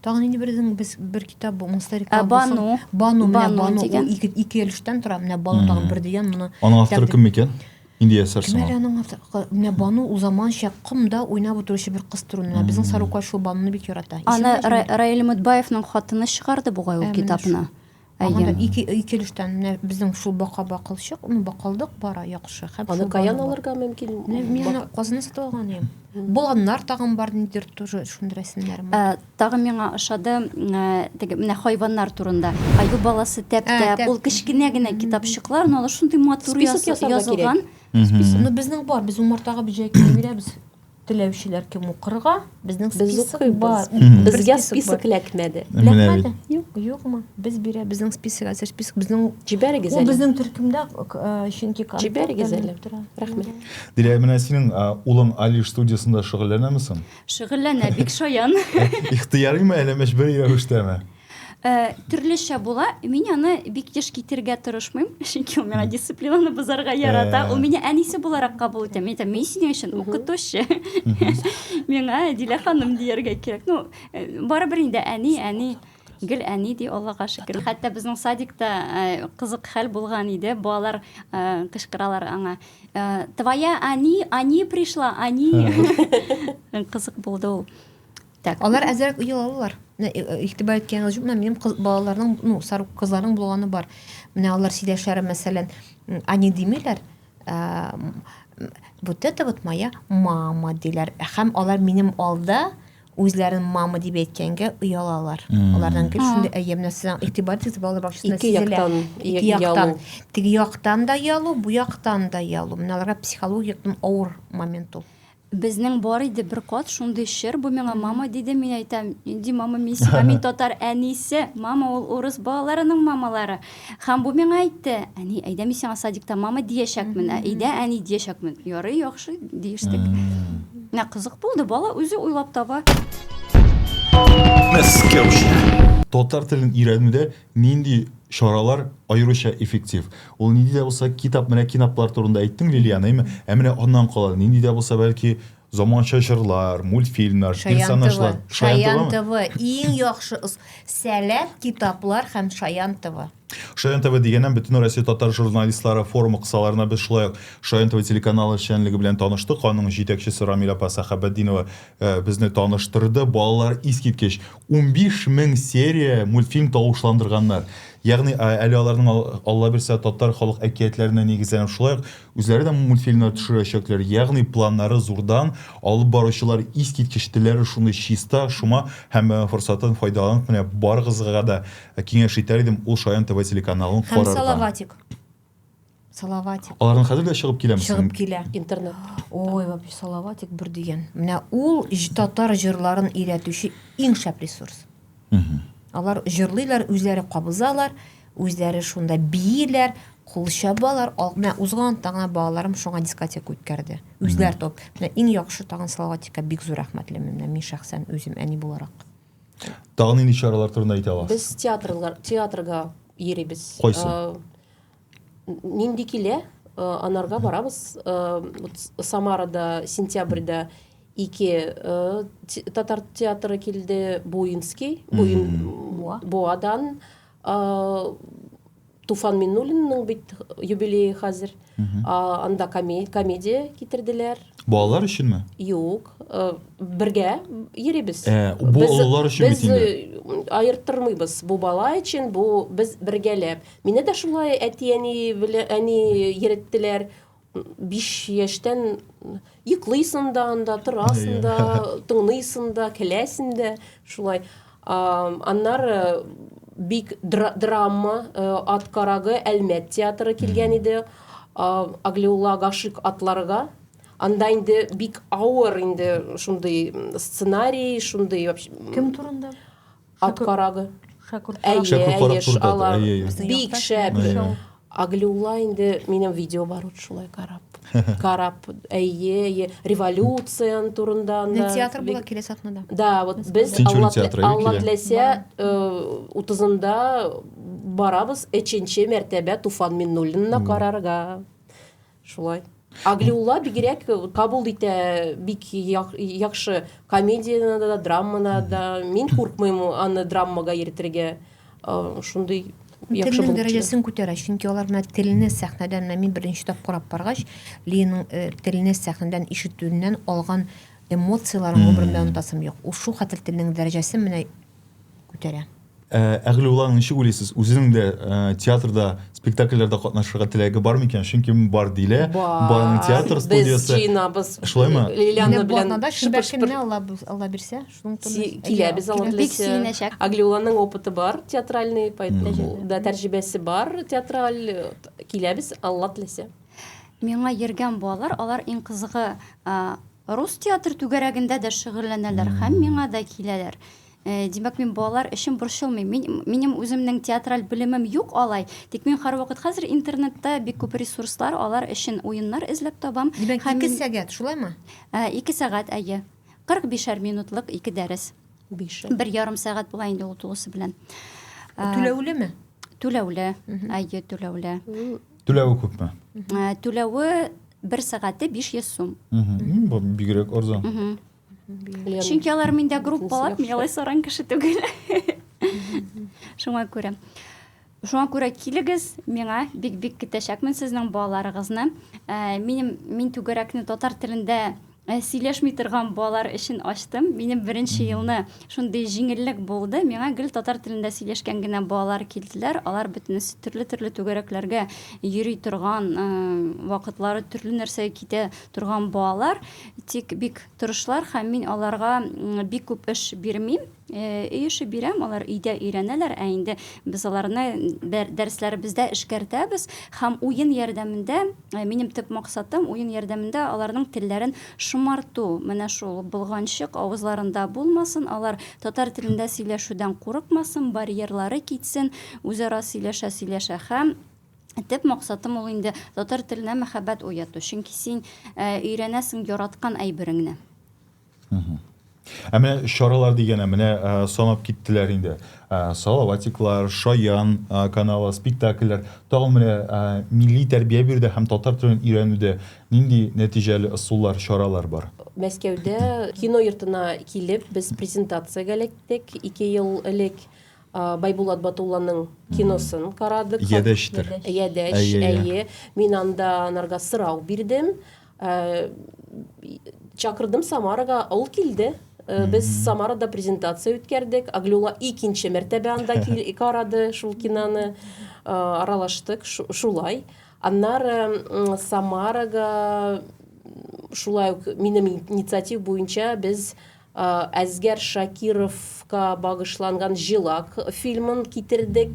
Тагын инде бердән без бер китап бу монстер реклама. Бану. Бану, бану, бану дигән. Ике ике өлештән тора. Менә бану тагын бер дигән моны. Аның авторы кем микән? Инде ясарсың. Менә аның авторы. Менә бану ул заманча комда уйнап утыручы бер кыз турында. Менә безнең Сарукай шул бануны бик ярата. Аны Раил Мөтбаевның хатыны чыгарды бугай ул китапны. Әйе. Ике ике өлештән менә безнең шул бака бакылчык, ну бакылдык бара яхшы. Хәп Аны каян алырга мөмкин? Мин аны Казаннан сатып алган идем. Боланнар тагын бар нидер тоже шундый рәсемнәр. Ә, тагын миңа ошады, ә, теге менә хайваннар турында. Аю баласы тәп-тәп, ул кечкенә генә китапчыклар, но алар шундый матур язылган. Список ясарга кирәк. Ну безнең бар, без умартага бөҗәк бирәбез. Теләүчеләр кем укырга? Безнең список бар. Безгә список эләкмәде. Эләкмәде? Юк. Юкмы? Без бирә, безнең список, әзер список, безнең Җибәрегез әле. Ул безнең төркемдә, э, чөнки контакт Җибәрегез әле. Рәхмәт. Дилә, менә синең улың Алиш студиясендә шөгыльләнәме соң? Шөгыльләнә, бик шаян. Ихтыярыймы, әллә мәҗбүри рәвештәме? Э, төрлечә була. Мин аны бик еш китерергә тырышмыйм, чөнки ул миңа дисциплинаны бозарга ярата. Э. Ул мине әнисе буларак кабул итә. Мин әйтәм, мин синең өчен укытучы. Миңа Дилә ханым дияргә кирәк. Ну, э, барыбер инде әни, әни гел әни ди аллага шөкер хәтта безнең садикта э, кызык хәл булган иде балалар э, кычкыралар аңа э, твоя ани ани пришла ани кызык булды ул Так, алар әзрәк ел алалар. Менә э, э, игътибар иткән җүп, менә минем кыз балаларның, ну, сарык кызларның булганы бар. Менә алар сөйләшәләр, мәсәлән, они димиләр. Ә, вот это вот моя мама диләр. Хәм алар минем алда үзләрен мама дип әйткәнгә оялалар. Алардан кем шундый әйе менә сезнең игътибар итегез балалар бакчасында Ике сизелә. яктан, Ике и- яктан. ялу. Теге яктан да ялу, бу яктан да ялу. Менә аларга психологик авыр момент ул. Безнең бар иде бер кат шундый чыр, бу миңа мама диде, мин әйтәм, нинди мама, мин сиңа, мин татар әнисе, мама ул урыс балаларының мамалары. Һәм бу миңа әйтте, әни, әйдә мин сиңа садикта мама диячәкмен, ә өйдә әни диячәкмен. Ярый, яхшы, диештек. Менә кызык булды, бала үзе уйлап таба. Мәскәүчә. Татар телен өйрәнүдә Нинди чаралар аеруча эффектив? Ул нинди дә булса китап, менә кинаплар турында әйттең, Лилиана, әйме? Ә менә аннан кала, нинди дә булса бәлки заманча җырлар, мультфильмнар, персонажлар. Шаян ТВ. Иң яхшы сәләт китаплар һәм Шаян ТВ. Шаян ТВ дигәннән бөтен Россия татар журналистлары форумы кысаларына без шулай ук Шаян ТВ телеканалы эшчәнлеге белән таныштык. Аның җитәкчесе Рамиль апа Сәхәбәтдинова безне таныштырды. Балалар искиткеч Унбиш мең серия мультфильм тавышландырганнар. Ягъни, әле аларның, аллабирса, татар халык әкиятләренә нигезләнеп, шулай ук үзләре дә мультфильмнар төшерәчәкләр. Ягъни, планнары зурдан, алып баручылар искиткеч, телләре шундый чиста, шома һәм форсаттан файдаланып, менә барыгызга да киңәш итәр идем, ул шаян тв телеканалын Һәм карарга. Салаватик. Салаватик. Алардан хәзер дә чыгып киләме? Чыгып килә. Интернет. Ой, вообще Салаватик бер дигән. Менә ул татар җырларын өйрәтүче иң шәп ресурс. Алар җырлыйлар, үзләре кабызалар, үзләре шунда бииләр, кул чабалар. Менә узган таңа балаларым шуңа дискотека үткәрде. Үзләр топ. Менә иң яхшы тагын Салаватикка бик зур рәхмәтлемен. Менә мин шәхсән үзем әни буларак. Тагын нинди чаралар турында әйтә аласыз? Без театрлар, театрга йөрибез. Кайсы? Э, нинди килә, э, анарга барабыз. Э, Самарада сентябрьдә ике татар театры килде, Буинский, Буин Буадан, Туфан Миннуллинның бит юбилее хәзер. Анда комедия китерделәр. Балалар өченме? Юк, бергә йөрибез. Э, бу олылар өчен бит инде. Без аерттырмыйбыз. Бу бала өчен, бу без бергәләп. Мине дә шулай әти-әни белән әни йөреттеләр. Биш яшьтән йоклыйсың да анда, торасың да, тыңлыйсың да, көләсең дә, шулай. Аннары бик драма э, ат карагы Әлмәт театры килгән иде. Аглиулла Гашик атларга анда инде бик авыр инде шундый сценарий, шундый кем турында? Ат карагы. Шәкүр карак. Шәкүр карак турында. Бик шәп. Аглиула инде минем видео бар ут шулай карап. Карап, әйе, революция турында анда. Театр була килә сахнада. Да, вот без Алла теләсә 30-нда э, барабыз 3-нче мәртәбә Туфан Миннуллинны карарга. Шулай. Аглиулла бигрәк кабул итә бик яхшы комедияне да, драманы да. Мин куркмыйм аны драмага йөртергә. Шундый яхшы булып. дәрәҗәсен күтәрә, чөнки алар менә телне сәхнәдән мин беренче тапкыр карап баргач, Линың э, телне сәхнәдән ишетүеннән алган эмоцияләрен гомерендә онытасым юк. Ул шул хәтле телнең дәрәҗәсен менә күтәрә. Ә, Әгълиулла, ничек уйлыйсыз, үзенең дә ә, театрда, спектакльләрдә катнашырга теләге бар микән? Чөнки бар дилә. Барның театр студиясе. Без җыенабыз. Шулаймы? Лилиана белән да шөбәр көнне Алла Алла бирсә, шуның турында килә без Алла белән. Әгълиулланың опыты бар, театральный, поэтому да тәрҗибәсе бар, театраль киләбез Алла теләсә. Миңа йөргән балалар, алар иң кызыгы Рус театр түгәрәгендә дә шөгыльләнәләр һәм миңа да киләләр. Э, димәк, мин балалар өчен борчылмыйм. Мин, минем үземнең театраль белемем юк алай, тик мин һәрвакыт хәзер интернетта бик күп ресурслар, алар өчен уеннар эзләп табам. Димәк, һәм... ике сәгать, шулаймы? Э, ике сәгать, әйе. 45-әр минутлык ике дәрес. Бишәр. Бер ярым сәгать була инде ул тулысы белән. Э, түләүлеме? Түләүле, әйе, түләүле. Түләве күпме? Ә, Түләве бер сәгате 500 сум. Мгм. Бу бигрәк арзан. Мгм. Чөнки алар миндә группалар, мин алай саран кеше түгел. Шуңа күрә. Шуңа күрә килегез, миңа бик-бик көтәчәкмен сезнең балаларыгызны. Ә, Минем мин түгәрәкне татар телендә Ә сөйләшми торган балар өчен ачтым. Минем беренче елны шундый җиңеллек булды. Миңа гел татар телендә сөйләшкән генә балалар килделәр. Алар бөтенесе төрле-төрле түгәрәкләргә йөри торган, э, вакытлары төрле нәрсәгә китә торган балалар. Тик бик тырышлар һәм мин аларга бик күп эш бирмим. Өй эше бирәм, алар өйдә өйрәнәләр, ә инде без аларны дәресләребездә эшкәртәбез һәм уен ярдәмендә, минем төп максатым, уен ярдәмендә аларның телләрен шомарту. Менә шул болганчык авызларында булмасын, алар татар телендә сөйләшүдән курыкмасын, барьерлары китсен, үзара сөйләшә-сөйләшә һәм Төп максатым ул инде татар теленә мәхәббәт уяту, чөнки син өйрәнәсең яраткан әйбереңне. Ә менә чаралар дигәнә менә санап киттеләр инде. Салаватиклар, Шаян каналы, спектакльләр, тагын менә милли тәрбия бирүдә һәм татар телен өйрәнүдә нинди нәтиҗәле ысуллар, чаралар бар? Мәскәүдә кино йортына килеп, без презентациягә эләктек. Ике ел элек Байбулат Батулланың киносын карадык. Ядәчтер. Ядәч, әйе. Мин анда анарга сорау бирдем. Э, чакырдым Самарага, ул килде. Э, без Самарада презентация үткәрдек. Аглюла икенче мәртәбә анда кил карады шул киноны. Э, аралаштык шулай. Аннары Самарага шулай ук минем инициатив буенча без Әсгар Шакировка багышланган Җилак фильмын китердек.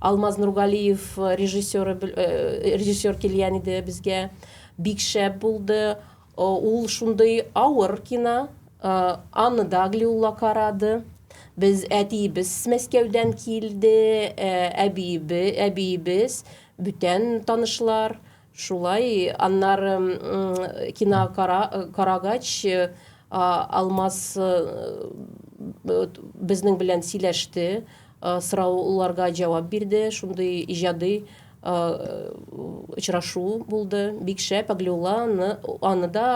Алмаз Нургалиев режиссеры режиссер килгән иде безгә. Бик шәп булды. Ул шундый авыр кино. Анна Даглиулла карады. Без әтиебез Мәскәүдән килде, әбиебе, әбиебез, бүтән танышлар. Шулай, аннары кино карагач, Алмаз безнең белән сөйләште, сорауларга җавап бирде, шундый иҗади очрашу булды, бик шәп, Аглиулла аны да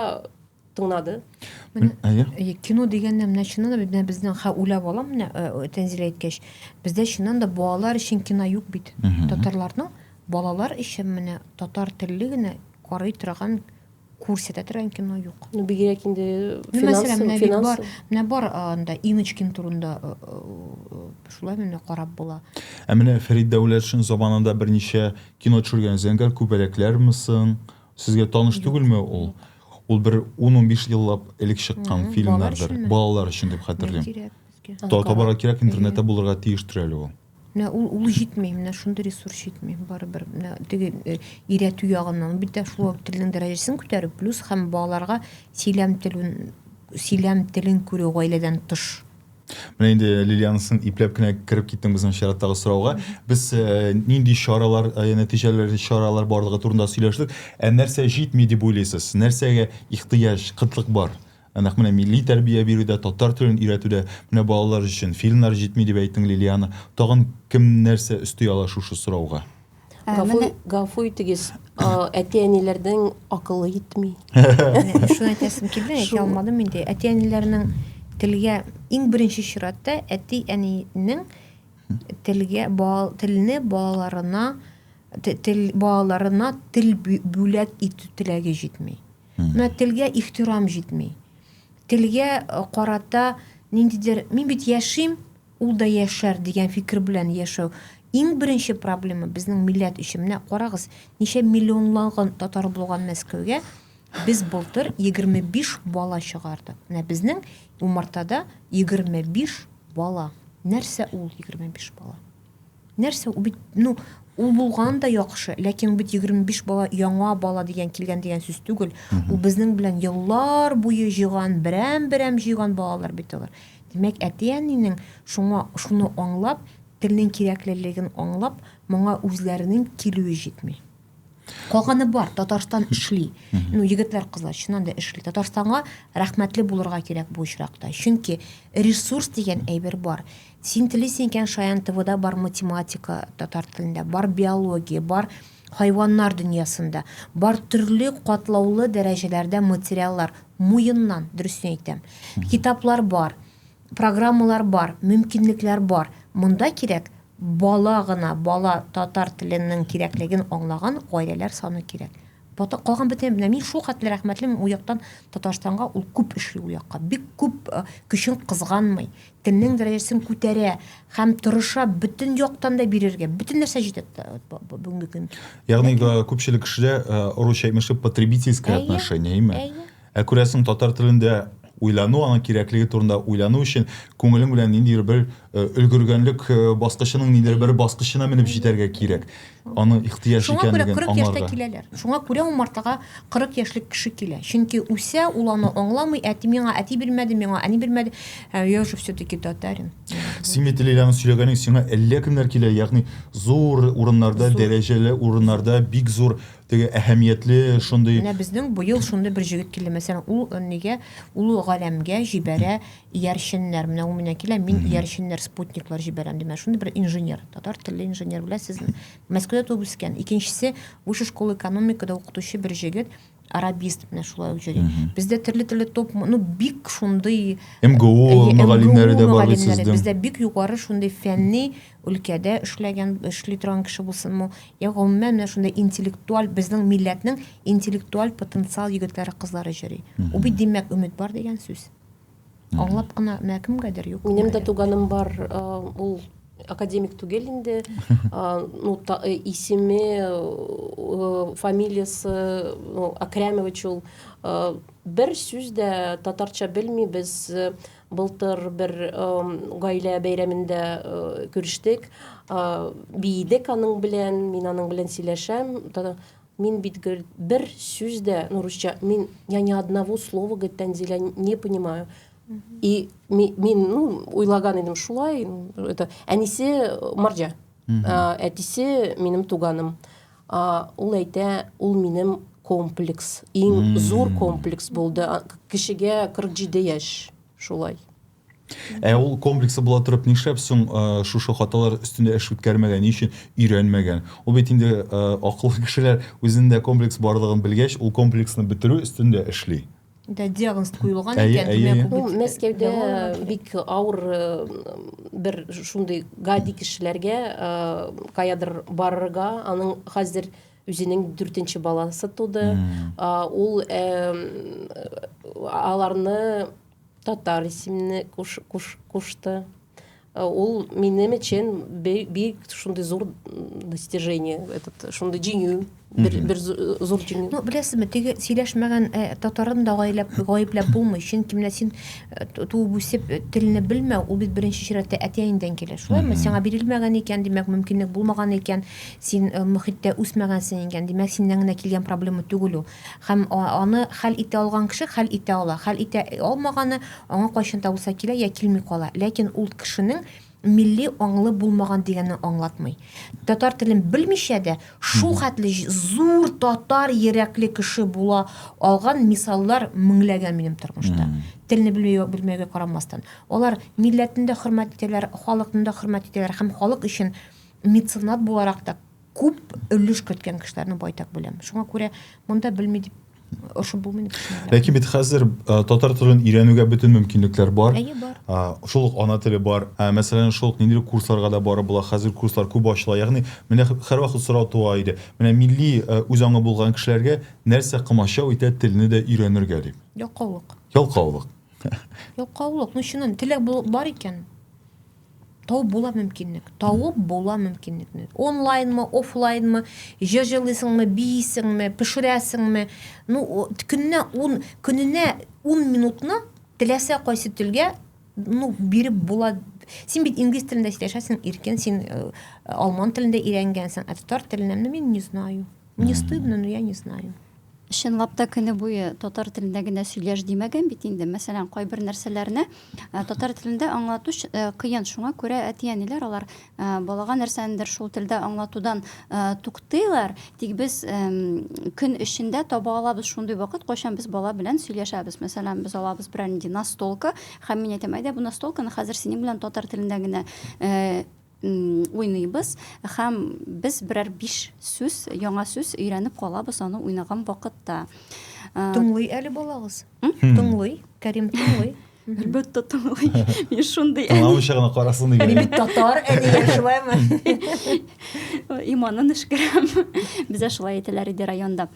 тыңлады. Әйе. Кино дигәндә менә чыннан да менә безнең хә уйлап алам менә э, Тәнзилә әйткәч, бездә чыннан да балалар өчен кино юк бит. Татарларның балалар өчен менә татар телле генә карый торган күрсәтә торган кино юк. Ну бигрәк инде финанс. Мәсәлән, менә бит бар, менә бар анда Иночкин турында э, э, шулай менә карап була. Ә менә Фәрид Дәүләтшин заманында берничә кино төшергән. Зәңгәр күбәләкләрме соң? Сезгә таныш түгелме ул? Ул бер 10-15 еллап элек чыккан фильмнардыр. Балалар өчен дип хәтерлим. Табарга кирәк, интернетта булырга тиештер әле ул. Менә ул ул җитми, менә шундый ресурс җитми. Барыбер менә теге э, өйрәтү ягыннан бит тә шул ук телнең дәрәҗәсен күтәрү, плюс һәм балаларга сөйләм телен сөйләм телен күрү гаиләдән тыш. Менә инде Лилианысын ипләп кенә кереп киттең безнең чираттагы сорауга. Без э, нинди чаралар, э, нәтиҗәләр, чаралар барлыгы турында сөйләштек. Ә нәрсә җитми дип уйлыйсыз? Нәрсәгә ихтыяҗ, кытлык бар? Ә нәкъ менә милли тәрбия бирүдә, татар телен өйрәтүдә, менә балалар өчен фильмнар җитми дип әйттең, Лилиана. Тагын кем нәрсә өсти ала шушы сорауга? Гафу итегез, әти-әниләрнең акылы җитми. Шуны әйтәсем килде, әйтә алмадым инде. Әти-әниләрнең телгә иң беренче чиратта әти-әнинең телгә телне балаларына тел балаларына тел бүләк итү теләге җитми. Менә телгә ихтирам җитми. Телгә карата ниндидер мин бит яшим, Ул да яшәр, дигән фикер белән яшәү. Иң беренче проблема безнең милләт өчен, менә карагыз, ничә миллионлаган татар булган Мәскәүгә, без былтыр 25 бала чыгардык. Менә безнең умартада 25 бала. Нәрсә ул 25 бала? Нәрсә ул бит, ну, ул булган да яхшы, ләкин ул бит 25 бала, яңа бала дигән килгән дигән сүз түгел. Ул безнең белән еллар буе җыйган, берәм-берәм җыйган балалар бит алар. Димәк, әти-әнинең шуңа шуны аңлап, телнең кирәклелеген аңлап, моңа үзләренең килүе җитми. калганы бар татарстан эшли ну егетләр кызлар чыннан да эшли татарстанга рәхмәтле булырга кирәк бу очракта чөнки ресурс дигән әйбер бар син телисең икән шаян твда бар математика татар телендә бар биология бар хайваннар дөньясында бар төрле катлаулы дәрәҗәләрдә материаллар муеннан дөресен әйтәм китаплар бар программалар бар мөмкинлекләр бар монда кирәк Бала гына, бала татар теленең кирәклеген аңлаган гаиләләр саны кирәк. Бата, калган бөтен менә мин шул хәтле рәхмәтлемен ул яктан Татарстанга, ул күп эшли ул якка, бик күп көчен кызганмый, телнең дәрәҗәсен күтәрә һәм тырыша бөтен яктан да бирергә, бөтен нәрсә җитә бүгенге көн. Ягъни күпчелек кешеләр русча имештер потребительское отношение, әйме? Ә күрәсең, татар телендә уйлану, аның кирәклеге турында уйлану өчен күңелең белән ниндидер бер э, өлгергәнлек э, баскычының ниндидер бер баскычына менеп җитәргә кирәк. Аны ихтыяҗ Шуңа күрә икәнлеген 40 яшьтә аңларга. киләләр. Шуңа күрә умартага 40 яшьлек кеше килә. Чөнки үсә, ул аны аңламый, әти миңа әти бирмәде, миңа әни бирмәде. Ә я же все-таки татарин. Син бит Лиләнең сөйләгәнең сиңа әллә кемнәр килә, ягъни зур урыннарда, Зур. дәрәҗәле урыннарда, бик зур Теге әһәмиятле шундый. Менә безнең быел шундый бер җегет килде. Мәсәлән, ул нигә ул галәмгә җибәрә иярченнәр. Менә ул менә килә, мин иярченнәр, спутниклар җибәрәм димә. Шундый бер инженер, татар телле инженер беләсезме? Мәскәүдә туып үскән. Икенчесе, высшая школа экономикада укытучы бер җегет, арабист менә шулай ук йөри. Бездә төрле-төрле топ, ну бик шундый МГУ мөгаллимнәре дә бар бит сезнең. Бездә бик югары шундый фәнни өлкәдә эшләгән, эшли торган кеше булсынмы, я гомумән менә шундый интеллектуаль безнең милләтнең интеллектуаль потенциал егетләре, кызлары җөри. Бу бит димәк өмет бар дигән сүз. Аңлап кына менә кемгәдер юк. Минем дә туганым бар, ул академик түгел инде. Ну, э, исеме, э, фамилиясе, ну, Акрямович ул. Э, бер сүз дә татарча белми, без Былтыр бер гаилә бәйрәмендә күрештек, биедек аның белән, мин аның белән сөйләшәм, мин бит гел бер сүз дә, ну, русча, мин, я ни одного слова, говорит, Тәнзилә, не понимаю. И мин, ну, уйлаган идем шулай, это, әнисе марҗа, әтисе минем туганым. А, ул әйтә, ул минем комплекс, иң зур комплекс булды. А, Кешегә 47 яшь шулай. Ә ул комплексы була торып нишләп соң э, шушы хаталар өстендә эш үткәрмәгән, ни өчен өйрәнмәгән? Ул бит инде э, акыллы кешеләр үзендә комплекс барлыгын белгәч, ул комплексны бетерү өстендә эшли. Да, диагноз куелган әйе, икән, әйе, әйе. Ул Мәскәүдә бик авыр э, бер шундый гади кешеләргә э, каядыр барырга, аның хәзер үзенең дүртенче баласы туды. Ул аларны татар исемне кушты. Э, ул минем өчен бик шундый зур достижение этот шундый җиңү бер, бер зур җиңү ну беләсезме теге сөйләшмәгән э, татарын да гаепләп гаепләп булмый чөнки менә син э, туып үсеп телне белмәү ул бит беренче чиратта әтиәңдән килә шулаймы сиңа бирелмәгән икән димәк мөмкинлек булмаган икән син мөхиттә үсмәгәнсең икән димәк синнән генә килгән проблема түгел ул Һәм аны хәл итә алган кеше хәл итә ала. Хәл итә алмаганы аңа кайчан да булса килә я килми кала. Ләкин ул кешенең милли аңлы булмаган дигәнне аңлатмый. Татар телен белмичә дә шул хәтле зур татар йөрәкле кеше була алган мисаллар меңләгән минем тормышта. Телне белмәүгә белмәүгә карамастан. Алар милләтен дә хөрмәт итәләр, халыкны да хөрмәт итәләр һәм халык өчен меценат буларак та Күп өлеш керткән кешеләрне байтак беләм. Шуңа күрә монда белми дип ошып булмый. Ләкин бит хәзер татар телен өйрәнүгә бөтен мөмкинлекләр бар. Әйе, бар. Шул ук ана теле бар. Мәсәлән, шул ук ниндидер курсларга да барып була. Хәзер курслар күп ачыла. Ягъни, менә һәрвакыт сорау туа иде. Менә милли үз аңы булган кешеләргә нәрсә комачау итә телне дә өйрәнергә дип? Ялкаулык. Ялкаулык. Ялкаулык. Ну, чыннан, теләк бар икән, Тау була мөмкинлек. Тауып була мөмкинлекне. Онлайнмы, офлайнмы, җыр җырлыйсыңмы, биисеңме, пешерәсеңме? Ну, көненә 10, көненә 10 минутны теләсә кайсы телгә ну биреп була син бит инглиз телендә сөйләшәсең иркен син э, алман телендә өйрәнгәнсең ә татар теленә ну мин не знаю Мне стыдно, но я не знаю. Чынлап та көне буе татар телендә генә сөйләш димәгән бит инде. Мәсәлән, кайбер нәрсәләрне э, татар телендә аңлату э, кыен. Шуңа күрә әти-әниләр алар э, балага нәрсәнедер шул телдә аңлатудан туктыйлар. Тик без көн эчендә таба алабыз шундый вакыт, кайчан без бала белән сөйләшәбез. Мәсәлән, без алабыз берәр нинди настолка, һәм мин әйтәм, әйдә бу настолканы хәзер синең белән татар телендә генә уйныйбыз һәм без берәр биш сүз яңа сүз өйрәнеп калабыз аны уйнаган вакытта тыңлый әле балагыз тыңлый кәрим тыңлый әлбәттә тыңлый мин шундый тыңламыйча гына карасын дигән мин татар әниләр шулаймы иманын өшкерәм бездә шулай әйтәләр иде районда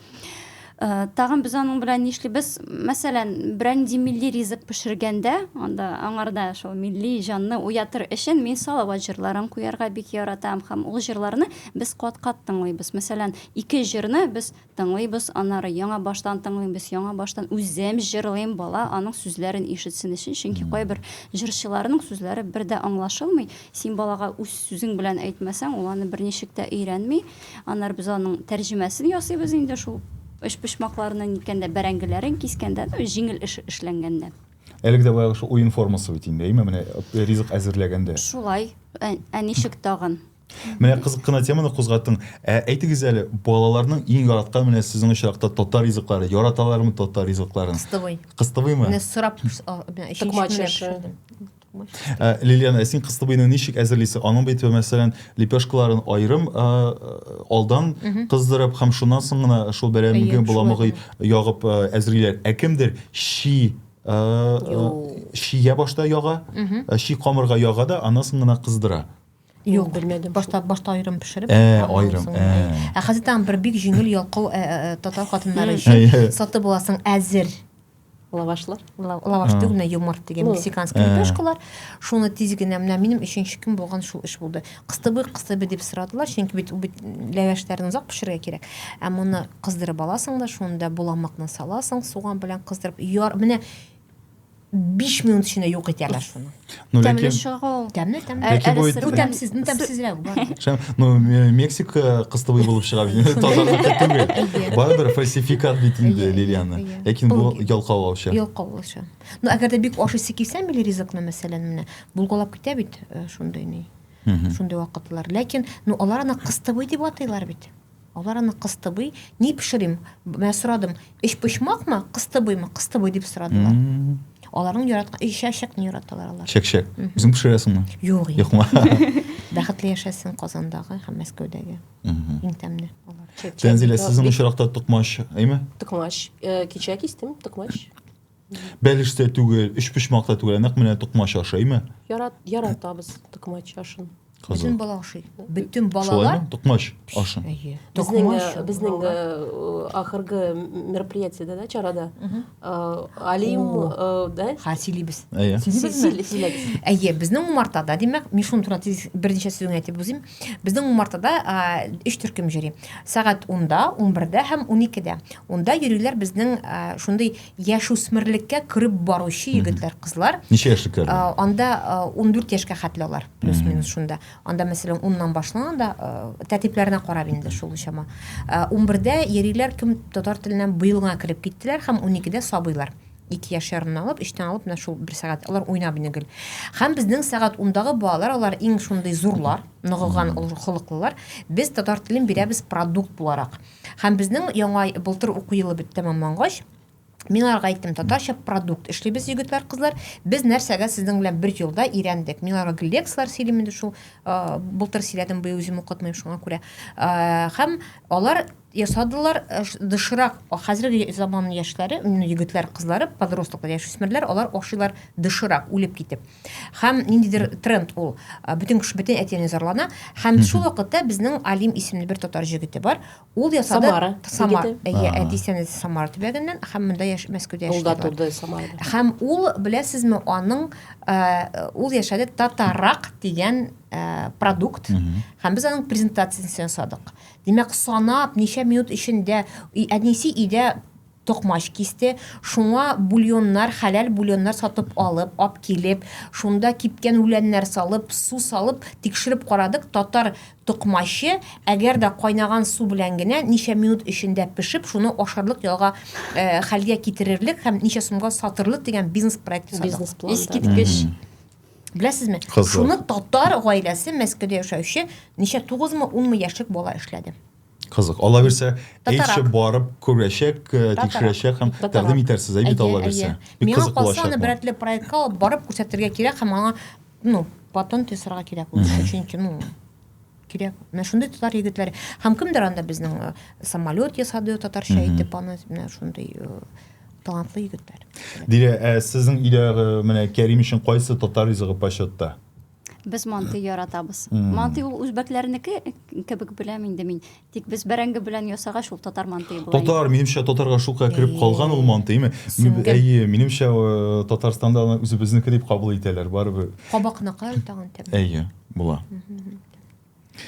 Э, тагын без аның белән нишлибез мәсәлән берәр нинди милли ризык пешергәндә анда аңарда шул милли җанны уятыр өчен мин салават җырларын куярга бик яратам һәм ул җырларны без кат кат тыңлыйбыз мәсәлән ике җырны без тыңлыйбыз аннары яңа баштан тыңлыйбыз яңа баштан үзем җырлыйм бала аның сүзләрен ишетсен өчен чөнки кайбер җырчыларның сүзләре бер дә аңлашылмый син балага үз сүзең белән әйтмәсәң ул аны берничек тә өйрәнми Аннары без аның тәрҗемәсен ясыйбыз инде шул өчпочмакларны ниткәндә, бәрәңгеләрен кискәндә, ну, җиңел эш эшләнгәндә. Әлеге дә баягы шул уен формасы бит инде, әйме, менә э, ризык әзерләгәндә. Шулай. Ә, ә ничек тагын? Менә кызык кына теманы кузгаттың. Ә әйтегез әле, балаларның иң яраткан менә сезнең очракта татар ризыклары, яраталармы татар ризыкларын? Кыстыбый. Кыстыбыймы? Менә сорап, а, менә өченче Токмач көнне ашы. пешердем. Э, Лилиана, ә син кыстыбыйны ничек әзерлисең? Аның бит, мәсәлән, лепешкаларын айрым э, э, алдан кыздырып һәм шуннан соң гына шул бәрәмге боламыгы ягып әзерлиләр. Ә кемдер чи чия башта яга, чи камырга яга да, аннан соң гына кыздыра. Юк, белмәдем. Башта башта айрым пешереп. Ә, айрым. Ә хәзер тагын бер бик җиңел ялкау татар хатыннары өчен саты буласың әзер. лавашлы лаваш түгел менә юморт дигән мексиканский лепешкалар шуны тиз генә менә минем өченче көн булган шул эш булды кыстыбый кыстыбый дип сорадылар чөнки бит бит ләвәшләрне озак пешерергә кирәк ә моны кыздырып аласың да шунда буламыкны саласың суган белән кыздырып яр менә биш минут эчендә юк итәләр шуны Ну, тәмле ләкин... чыга ул. Тәмле, тәмле. Ләкин бу... Бу тәмсез, бу тәмсезрәк. Ну, Мексика кыстыбый булып чыга бит. Тазалыкка түгел. Барыбер фальсификат бит инде Лилиана. Ләкин бу ялкаулаучы. Ялкаулаучы. Ну, әгәр дә бик ашыйсы килсә, милли ризыкны, мәсәлән, менә булгалап китә бит э, шундый ни. Шундый вакытлар. Ләкин, ну, алар аны кыстыбый дип атыйлар бит. Алар аны кыстыбый, ни пешерим? Мен сорадым, өчпочмакмы, кыстыбыймы? Кыстыбый дип сорадылар. Аларның яраткан өч чәчәкне яраталар алар. Чәчәк. Үзең пешерәсеңме? Юк. Юкмы? Бәхетле яшәсен Казандагы һәм Мәскәүдәге. Иң тәмле алар. Тәнзилә, сезнең очракта токмач, әйме? Токмач. Э, кичә кистем токмач. Бәлеш тә түгел, өчпочмак та түгел, нәкъ менә токмач ашыймы? Ярат, яратабыз токмач ашын. Бөтен бала ашый. Бөтен балалар. Токмач ашын. Әйе. Токмач. Безнең э, э, ахыргы мероприятиедә да чарада э, Алим да? Ха, сөйлибез. Сөйлибез. Әйе, безнең умартада, димәк, Мишун турында тиз берничә сүз әйтеп узыйм. Безнең умартада 3 төркем җөри. Сәгать 10-да, 11-дә һәм 12-дә. Унда йөриләр безнең шундый яшүсмерлеккә кереп баручы егетләр, кызлар. Ничә яшьлекләр? Анда 14 яшькә хәтле алар, плюс-минус шунда. Анда, мәсәлән, уннан башлана да, тәртипләренә карап инде шул чама. Унбердә йөриләр, кем татар теленнән быел гына кереп киттеләр һәм уникедә сабыйлар. Ике яшь ярымнан алып, өчтән алып, менә шул бер сәгать алар уйнап инде гел. Һәм безнең сәгать ундагы балалар, алар иң шундый зурлар, ныгыган, холыклылар. Без татар телен бирәбез продукт буларак. Һәм безнең яңа былтыр уку елы бит тәмамлангач, Мин аларга әйттем, татарча продукт эшлибез, егетләр, кызлар. Без нәрсәгә сезнең белән бер елда өйрәндек? Мин аларга гел лекцияләр сөйлим инде шул, э, былтыр сөйләдем, быел үзем укытмыйм шуңа күрә. Э, һәм алар ясадылар э, ш- доширак. О, Хәзерге заман яшьләре, именно егетләр, кызлары, подросток, яшүсмерләр, алар ашыйлар доширак, үлеп китеп. Хәм ниндидер тренд ул. Бүтән кеше бүтән әтине зарлана. Хәм шул вакытта безнең Алим исемле бер татар җегете бар. Ул ясады Самара. Самара. Әйе, әтисенә Самара төбәгеннән, хәм монда яшь Мәскәүдә яши. Ул да турды Самара. Хәм ул беләсезме, аның ул яшәде татарак дигән продукт. Хәм без аның презентациясен ясадык. Димәк, санап ничә минут эчендә әнисе өйдә токмач кисте, шуңа бульоннар, хәләл бульоннар сатып алып, ап килеп, шунда кипкән үләннәр салып, су салып, тикшереп карадык, татар токмачы, әгәр дә кайнаган су белән генә ничә минут эчендә пешеп, шуны ашарлык ялга хәлгә китерерлек һәм ничә сумга сатырлык дигән бизнес проект ясадык. Бизнес план. Искиткеч. Беләсезме? Кызык. Шуны татар гаиләсе, Мәскәүдә яшәүче, ничә, тугызмы, унмы яшьлек бала эшләде. Кызык. Алла бирсә, әйтше барып күрәчәк, э, тикшерәчәк һәм тәкъдим итәрсез, әй бит Алла бирсә. Бик кызык булачак. Миңа калса, аны проектка алып барып күрсәтергә кирәк һәм аңа, ну, патент ясарга кирәк ул эшне, чөнки, ну, кирәк. Менә шундый татар егетләре. Һәм кемдер анда безнең э, самолет ясады татарча әйтеп аны, менә шундый э, талантлы егетләр. Дилә, ә сезнең өйдәге менә Кәрим өчен кайсы татар ризыгы почетта? Без манты яратабыз. Манты ул үзбәкләрнеке кебек беләм инде мин. Тик без бәрәңге белән ясагач ул татар мантые була. Татар, минемчә татарга шулкадәр кереп калган ул мантыймы? Әйе, минемчә э, Татарстанда аны үзебезнеке дип кабул итәләр барыбер. Кабакныкы тагын тәм. Әйе, була.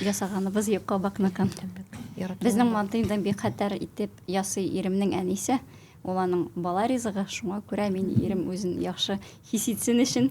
Ясаганыбыз юк кабакныкын. Безнең мантыйдан бик хәтәр итеп ясый иремнең әнисе. Ул аның бала ризыгы, шуңа күрә мин ирем үзен яхшы хис итсен өчен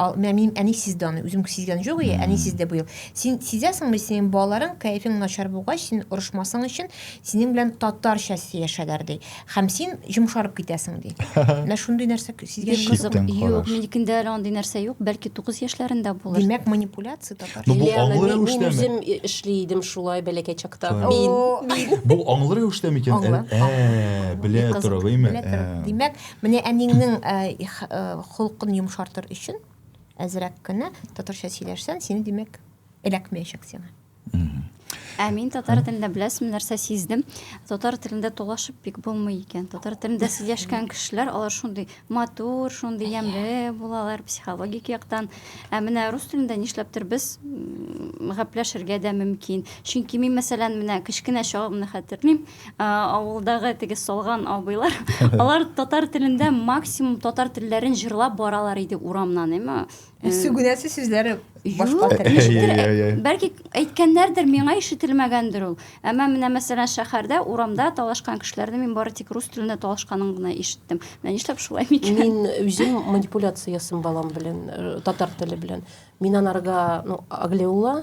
Ал, мә, минем әни сизде аны, үзем сизгән җук, и, әни сизде быел. Син сизәсеңме, синең балаларың кәефең начар булгач, син орышмасың өчен, синең белән татарча сөйләшәләр, ди. Һәм син йомшарып китәсең, ди. Менә шундый нәрсә сизгән Бик кызык. Читтән Юк, караш. минекендә әле андый нәрсә юк. Бәлки 9 яшьләрендә булыр. Димәк, манипуляция татар. Ну, бу Лена, аңлы мин, мин рәвештәме? үзем и- эшли идем шулай бәләкәй чакта. Так. Мин, О, мин. Бу аңлы рәвештә микән? Аңлы, Ә, белә Бик кызык. тора, гыйме? Белә тора. Ә. Димәк, Менә әнеңнең холкын йомшартыр өчен әзрәк кенә татарча сөйләшсән, сине димәк эләкмәячәк сиңа. Ә мин татар телендә беләсем нәрсә сиздем. Татар телендә тулашып бик булмый икән. Татар телендә сөйләшкән кешеләр, алар шундый матур, шундый ямле булалар психологик яктан. Ә менә рус телендә нишләптер без гапләшергә дә мөмкин. Чөнки мин мәсәлән менә кечкенә чагымны хәтерлим. авылдагы теге салган абыйлар алар татар телендә максимум татар телләрен җырлап баралар иде урамнан әмма э, сүгенәсе сүзләр башка тел бәлки әйткәннәрдер миңа ишетелмәгәндер ул әмма менә мәсәлән шәһәрдә урамда талашкан кешеләрне мин бары тик рус телендә талашканын гына ишеттем менә нишләп шулай микән мин үзем манипуляция ясыйм балам белән э, татар теле белән мин анарга ну аглеула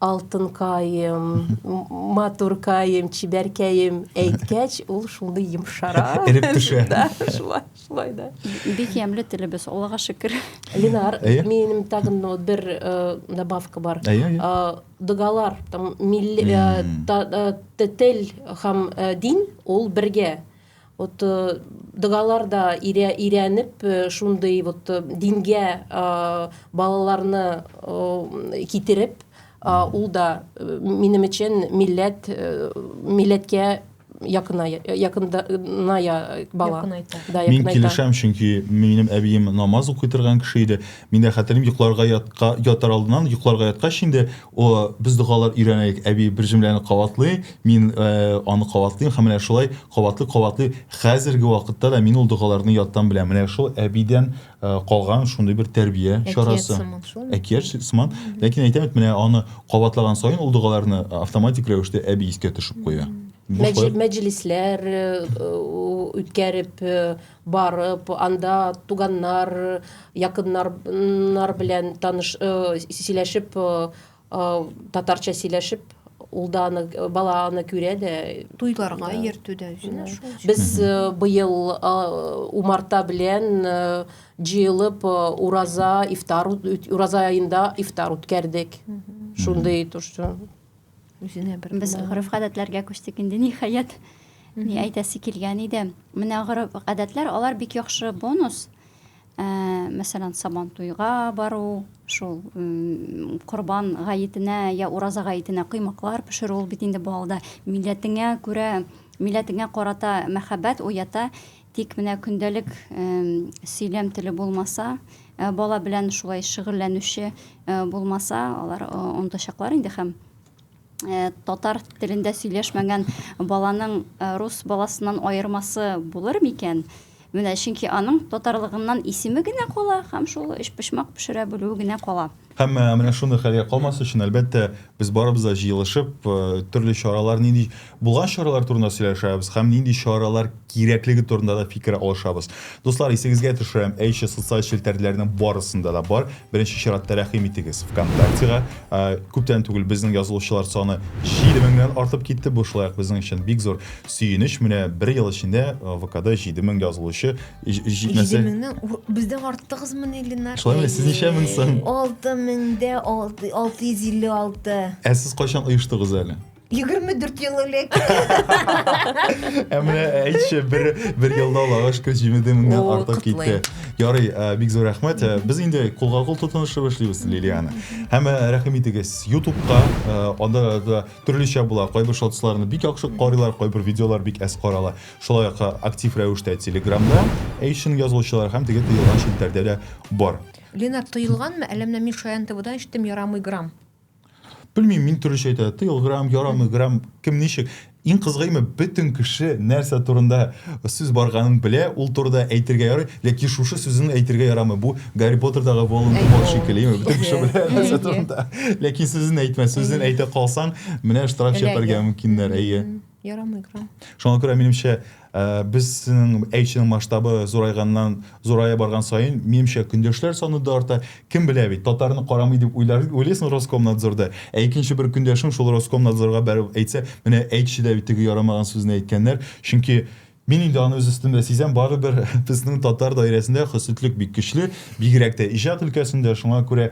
Алтынкаем, матуркаем, чибәркәем әйткәч, ул шундый йомшара. Эреп төшә. Да, шулай, шулай да. Бик ямьле телебез, Аллага шөкер. Ленар, Әйе. минем тагын ну, бер э, добавка бар. Әйе, әйе. Э, Догалар, там, милли, э, та- э, т- тел һәм э, дин, ул бергә. Вот догалар да өйрәнеп шундый вот дингә балаларны китереп ул да минем өчен милләт милләткә якыная якыная бала мин килешәм чөнки минем әбием намаз укый торган кеше иде мин дә хәтерлим йокларга ятка ятар алдыннан йокларга яткач инде О, без догалар өйрәнәйек, әби бер җөмләне кабатлый, мин аны кабатлыйм һәм менә шулай кабатлый-кабатлый хәзерге вакытта да мин ул догаларны яттан беләм. Менә шул әбидән калган шундый бер тәрбия чарасы. Әкият сыман шулмы? Әкият сыман. Ләкин әйтәм бит, менә аны кабатлаган саен ул догаларны автоматик рәвештә әби искә төшеп куя. Мәҗлесләр үткәреп, Барып, анда туганнар, якыннар нар белән таныш, сөйләшеп, татарча сөйләшеп, ул да аны, бала аны күрә дә. Туйларга йөртү дә үзенә шул. Без быел умарта белән җыелып ураза, ифтар, ураза аенда ифтар үткәрдек. Шундый то что. үзенә бер без гореф гадәтләргә күчтек инде ниһаять ни әйтәсе килгән иде менә гореф гадәтләр алар бик яхшы бонус ә, мәсәлән сабан туйга бару шул корбан гаетенә я ураза гаетенә коймаклар пешерү ул бит инде балда милләтеңә күрә милләтеңә карата мәхәббәт уята Тик менә көндәлек сөйләм теле булмаса, бала белән шулай шөгыльләнүче булмаса, алар онытачаклар инде һәм татар телендә сөйләшмәгән баланың рус баласыннан аермасы булыр микән? Менә чөнки аның татарлыгыннан исеме генә кала һәм шул өчпочмак пешерә белүе генә кала. Һәм менә шундый хәлгә калмас өчен, әлбәттә, без барыбыз да җыелышып, төрле чаралар нинди булган чаралар турында сөйләшәбез һәм нинди чаралар кирәклеге турында да фикер алышабыз. Дуслар, исегезгә төшерәм, әйше социаль челтәрләрнең барысында да бар. Беренче чиратта рәхим итегез ВКонтактега. Күптән түгел безнең язылучылар саны 7 меңнән артып китте. Бу шулай ук безнең өчен бик зур сөенеч. Менә бер ел эчендә ВКда 7 мең язылучы җитмәсә меңнән бездән артыгызмыни ленар шулаймы сез ничә мең соң алты меңдә алты алты йөз илле алты ә сез кайчан оештыгыз әле егерме дүрт ел элек ә менә әйтче бер бер елда алагыш көз җимеде меңнән артып китте ярый бик зур рәхмәт без инде кулга кул тотынышып эшлибез лилиана һәм рәхим итегез ютубка анда да төрлечә була кайбер шотсларны бик яхшы карыйлар кайбер видеолар бик әз карала Шулай ук актив рәвештә Телеграмда Эйшин язылучылар һәм теге тыелган челтәрдә дә бар. Ленар, тыелганмы, әллә менә мин Шаян ТВдан ишеттем, ярамый грамм. Белмим, мин төрлечә әйтә, тыел грамм, ярамый грамм, кем ничек. Иң кызгыйме, бөтен кеше нәрсә турында сүз барганын белә, ул турыда әйтергә ярый, ләкин шушы сүзен әйтергә ярамый. Бу Гарри Поттердагы Волан-де-Морт шикелле, яме, бөтен кеше белә нәрсә турында, ләкин сүзен әйтмә, сүзен әйтә калсаң, менә штраф чәпәргә мөмкиннәр, әйе. Ярамый экран. Шуңа күрә минемчә, э, безнең әйчнең масштабы зурайганнан зурая барган саен, минемчә, көндәшләр саны да арта. Кем белә бит, татарны карамый дип уйлар, уйлыйсың Роскомнадзорда. Ә икенче бер көндәшең шул Роскомнадзорга бәреп әйтсә, менә әйтче дә бит теге ярамаган сүзне әйткәннәр. Чөнки Мин инде аны үз өстемдә сизәм, барыбер безнең татар даирәсендә хөсетлек бик көчле, бигрәк тә иҗат өлкәсендә, шуңа күрә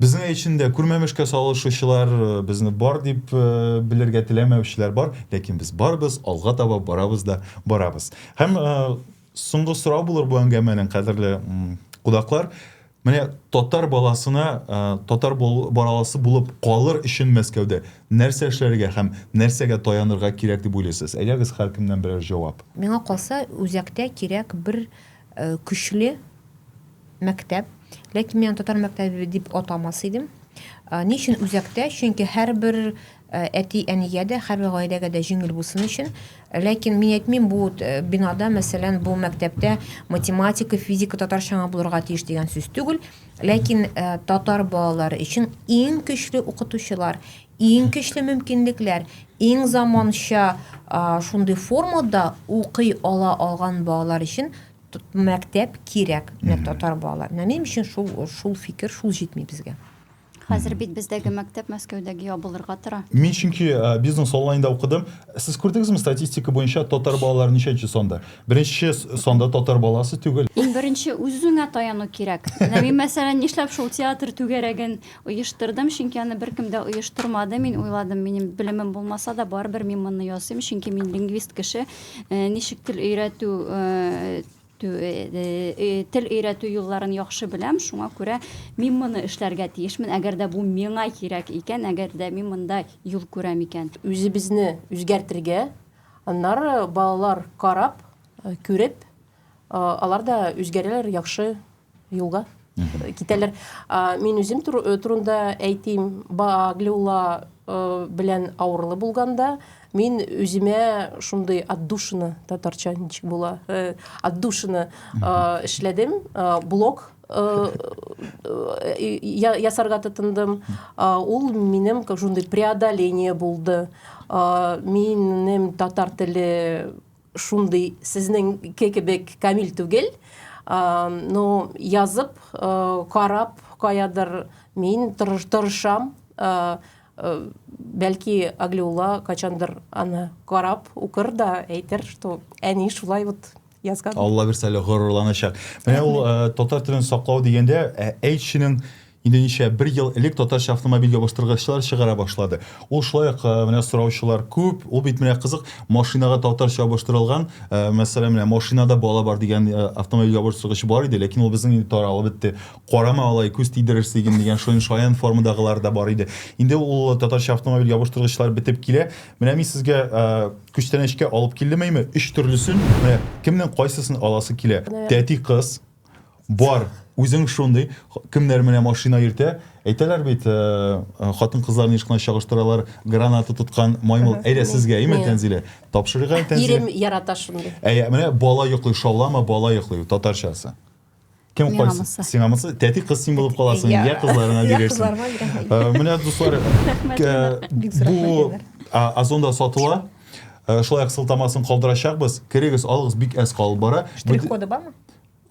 Безнең өчен дә күрмәмешкә салышучылар, безне бар дип белергә теләмәүчеләр бар, ләкин без барбыз, алга таба барабыз да барабыз. Һәм соңгы сорау булыр бу әңгәмәнең, кадерле кудаклар. Менә татар баласына татар бараласы булып калыр өчен Мәскәүдә нәрсә эшләргә һәм нәрсәгә таянырга кирәк дип уйлыйсыз? Әйдәгез, һәркемнән берәр җавап. Миңа калса, үзәктә кирәк бер Көчле мәктәп. Ләкин мин аны татар мәктәбе дип атамас идем. Ни өчен үзәктә? Чөнки һәрбер әти-әнигә дә, һәрбер гаиләгә дә җиңел булсын өчен. Ләкин мин әйтмим, бу бинада, мәсәлән, бу мәктәптә математика, физика, татарча гына булырга тиеш дигән сүз түгел. Ләкин татар балалары өчен иң көчле укытучылар, Иң көчле мөмкинлекләр, иң заманча шундый формада укый ала алган балалар өчен мәктәп кирәк менә татар балалар менә минем өчен шул шул фикер шул җитми безгә Хәзер бит бездәге мәктәп Мәскәүдәге ябылырга тора. Мин чөнки э, бизнес онлайнда укыдым. Сез күрдегезме статистика буенча татар балалары ничәнче санда? Беренче санда татар баласы түгел. Иң беренче үзеңә таяну кирәк. Менә мин мәсәлән нишләп шул театр түгәрәген Оештырдым, чөнки аны беркем дә оештырмады. Мин уйладым, минем белемем булмаса да, барыбер мин моны ясыйм, чөнки мин лингвист кеше. Ничек тел өйрәтү тел өйрәтү юлларын яхшы беләм, шуңа күрә мин моны эшләргә тиешмен, әгәр дә бу миңа кирәк икән, әгәр дә мин монда юл күрәм икән. Үзебезне үзгәртергә, аннары балалар карап, күреп, алар да үзгәрәләр, яхшы юлга китәләр. Мин үзем турында әйтим, Баглиулла белән авырлы булганда, мин үземә шундый отдушина, татарча ничек була, отдушина эшләдем, блок ясарга тотындым. Ул минем шундый преодоление булды. Минем татар теле шундый сезнеңке кебек камил түгел ну язып карап каядыр мин тырышам бәлки аглиулла кайчандыр аны карап укыр да әйтер что әни шулай вот язган алла бирсә әле горурланачак менә ул татар телен саклау дигәндә әйтченең Инде ничә бер ел элек татарча автомобиль ябыштыргычлар чыгара башлады. Ул шулай ук менә сораучылар күп, ул бит менә кызык, машинага татарча ябыштырылган, мәсәлән, менә машинада бала бар дигән автомобиль ябыштыргыч бар иде, ләкин ул безнең инде таралып бетте. Карама алай, күз тидерерсе идем дигән шуен шаян формадагылар да бар иде. Инде ул татарча автомобиль ябыштыргычлар бетеп килә. Менә мин сезгә күчтәнәчкә алып килдем, әйме, өч төрлесен, менә кемнең кайсысын аласы килә. Тәти кыз. Бар, үзең шундый. Кемнәр менә машина йөртә? Әйтәләр бит, э, э, хатын-кызларны еш кына чагыштыралар, граната тоткан маймыл. Әйдә сезгә, имә Мин. Тәнзилә. Тапшырыйк әле Тәнзилә. Ирем ярата шундый. Әйе, менә бала йоклый, шаулама, бала йоклый, татарчасы. Кем Миңа кайсы? мысы. Сиңа мысы? Тәти кыз син булып каласың, Я. я кызларына Я бирерсең. кызларыма бирәм. Э, Менә дуслар, э, Бик зур бу рәхмәт, Айдар. а, Озонда сатыла. Э, Шулай ук сылтамасын калдырачакбыз. Керегез, алыгыз, бик әз калып бара. Штрих-коды бармы?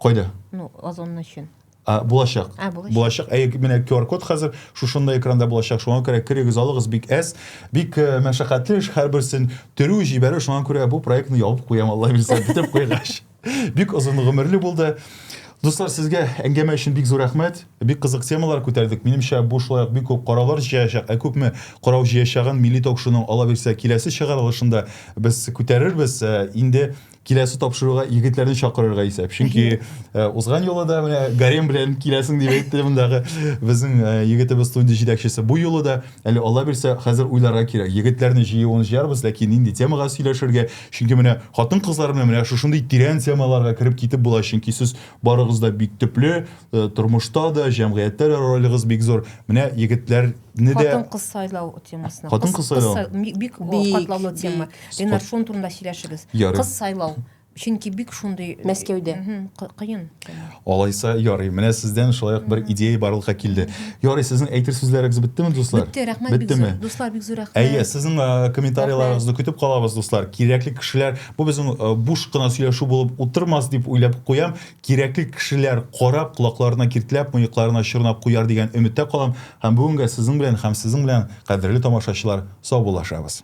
Кайда? Ну, озонны өчен. А, булачак. А, булачак. Булачак. Әй, менә QR-код хәзер шушында экранда булачак. Шуңа күрә керегез, алыгыз бик әз. Бик э, мәшәкатьле эш һәрберсен төрү, җибәрү. Шуңа күрә бу проектны ябып куям, Алла бирсә, битеп куйгач. Бик озын гомерле булды. Дуслар, сезгә әңгәмә өчен бик зур рәхмәт. Бик кызык темалар күтәрдек. Минемчә, бу шулай ук бик күп караулар җыячак. Ә күпме карау җыячагын Милли ток-шоуның ала бирсә киләсе чыгарылышында без күтәрербез. Э, инде киләсе тапшыруга егетләрне чакырырга исәп. Чөнки э, узган юлы да менә гарем белән киләсең дип әйтте мондагы безнең э, егетебез студия җитәкчесе. Бу юлы да әле Алла бирсә хәзер уйларга кирәк. Егетләрне җыюын җыярбыз, ләкин нинди темага сөйләшергә? Чөнки менә хатын-кызлар белән менә шушындый тирән темаларга кереп китеп була, чөнки сез барыгыз да бик төпле, э, тормышта да, җәмгыятьтә дә ролегыз бик зур. Менә егетләрне дә Хатын-кыз сайлау темасына. Хатын-кыз сайлау. Бик катлаулы тема. Ленар, шуның турында сөйләшегез. Кыз сайлау. Чөнки бик шундый Мәскәүдә. Кыен. Алайса ярый. Менә сездән шулай ук бер идея барлыкка килде. Ярый, сезнең әйтер сүзләрегез беттеме, дуслар? Бетте, рәхмәт бик зур. Дуслар, бик зур рәхмәт. Әйе, сезнең комментарийларыгызны көтеп калабыз, дуслар. Кирәкле кешеләр, бу безнең буш кына сөйләшү булып утырмас дип уйлап куям. Кирәкле кешеләр карап, колакларына киртләп, мыекларына чорнап куяр дигән өметтә калам. Һәм бүгенгә сезнең белән һәм сезнең белән, кадерле тамашачылар, саубуллашабыз.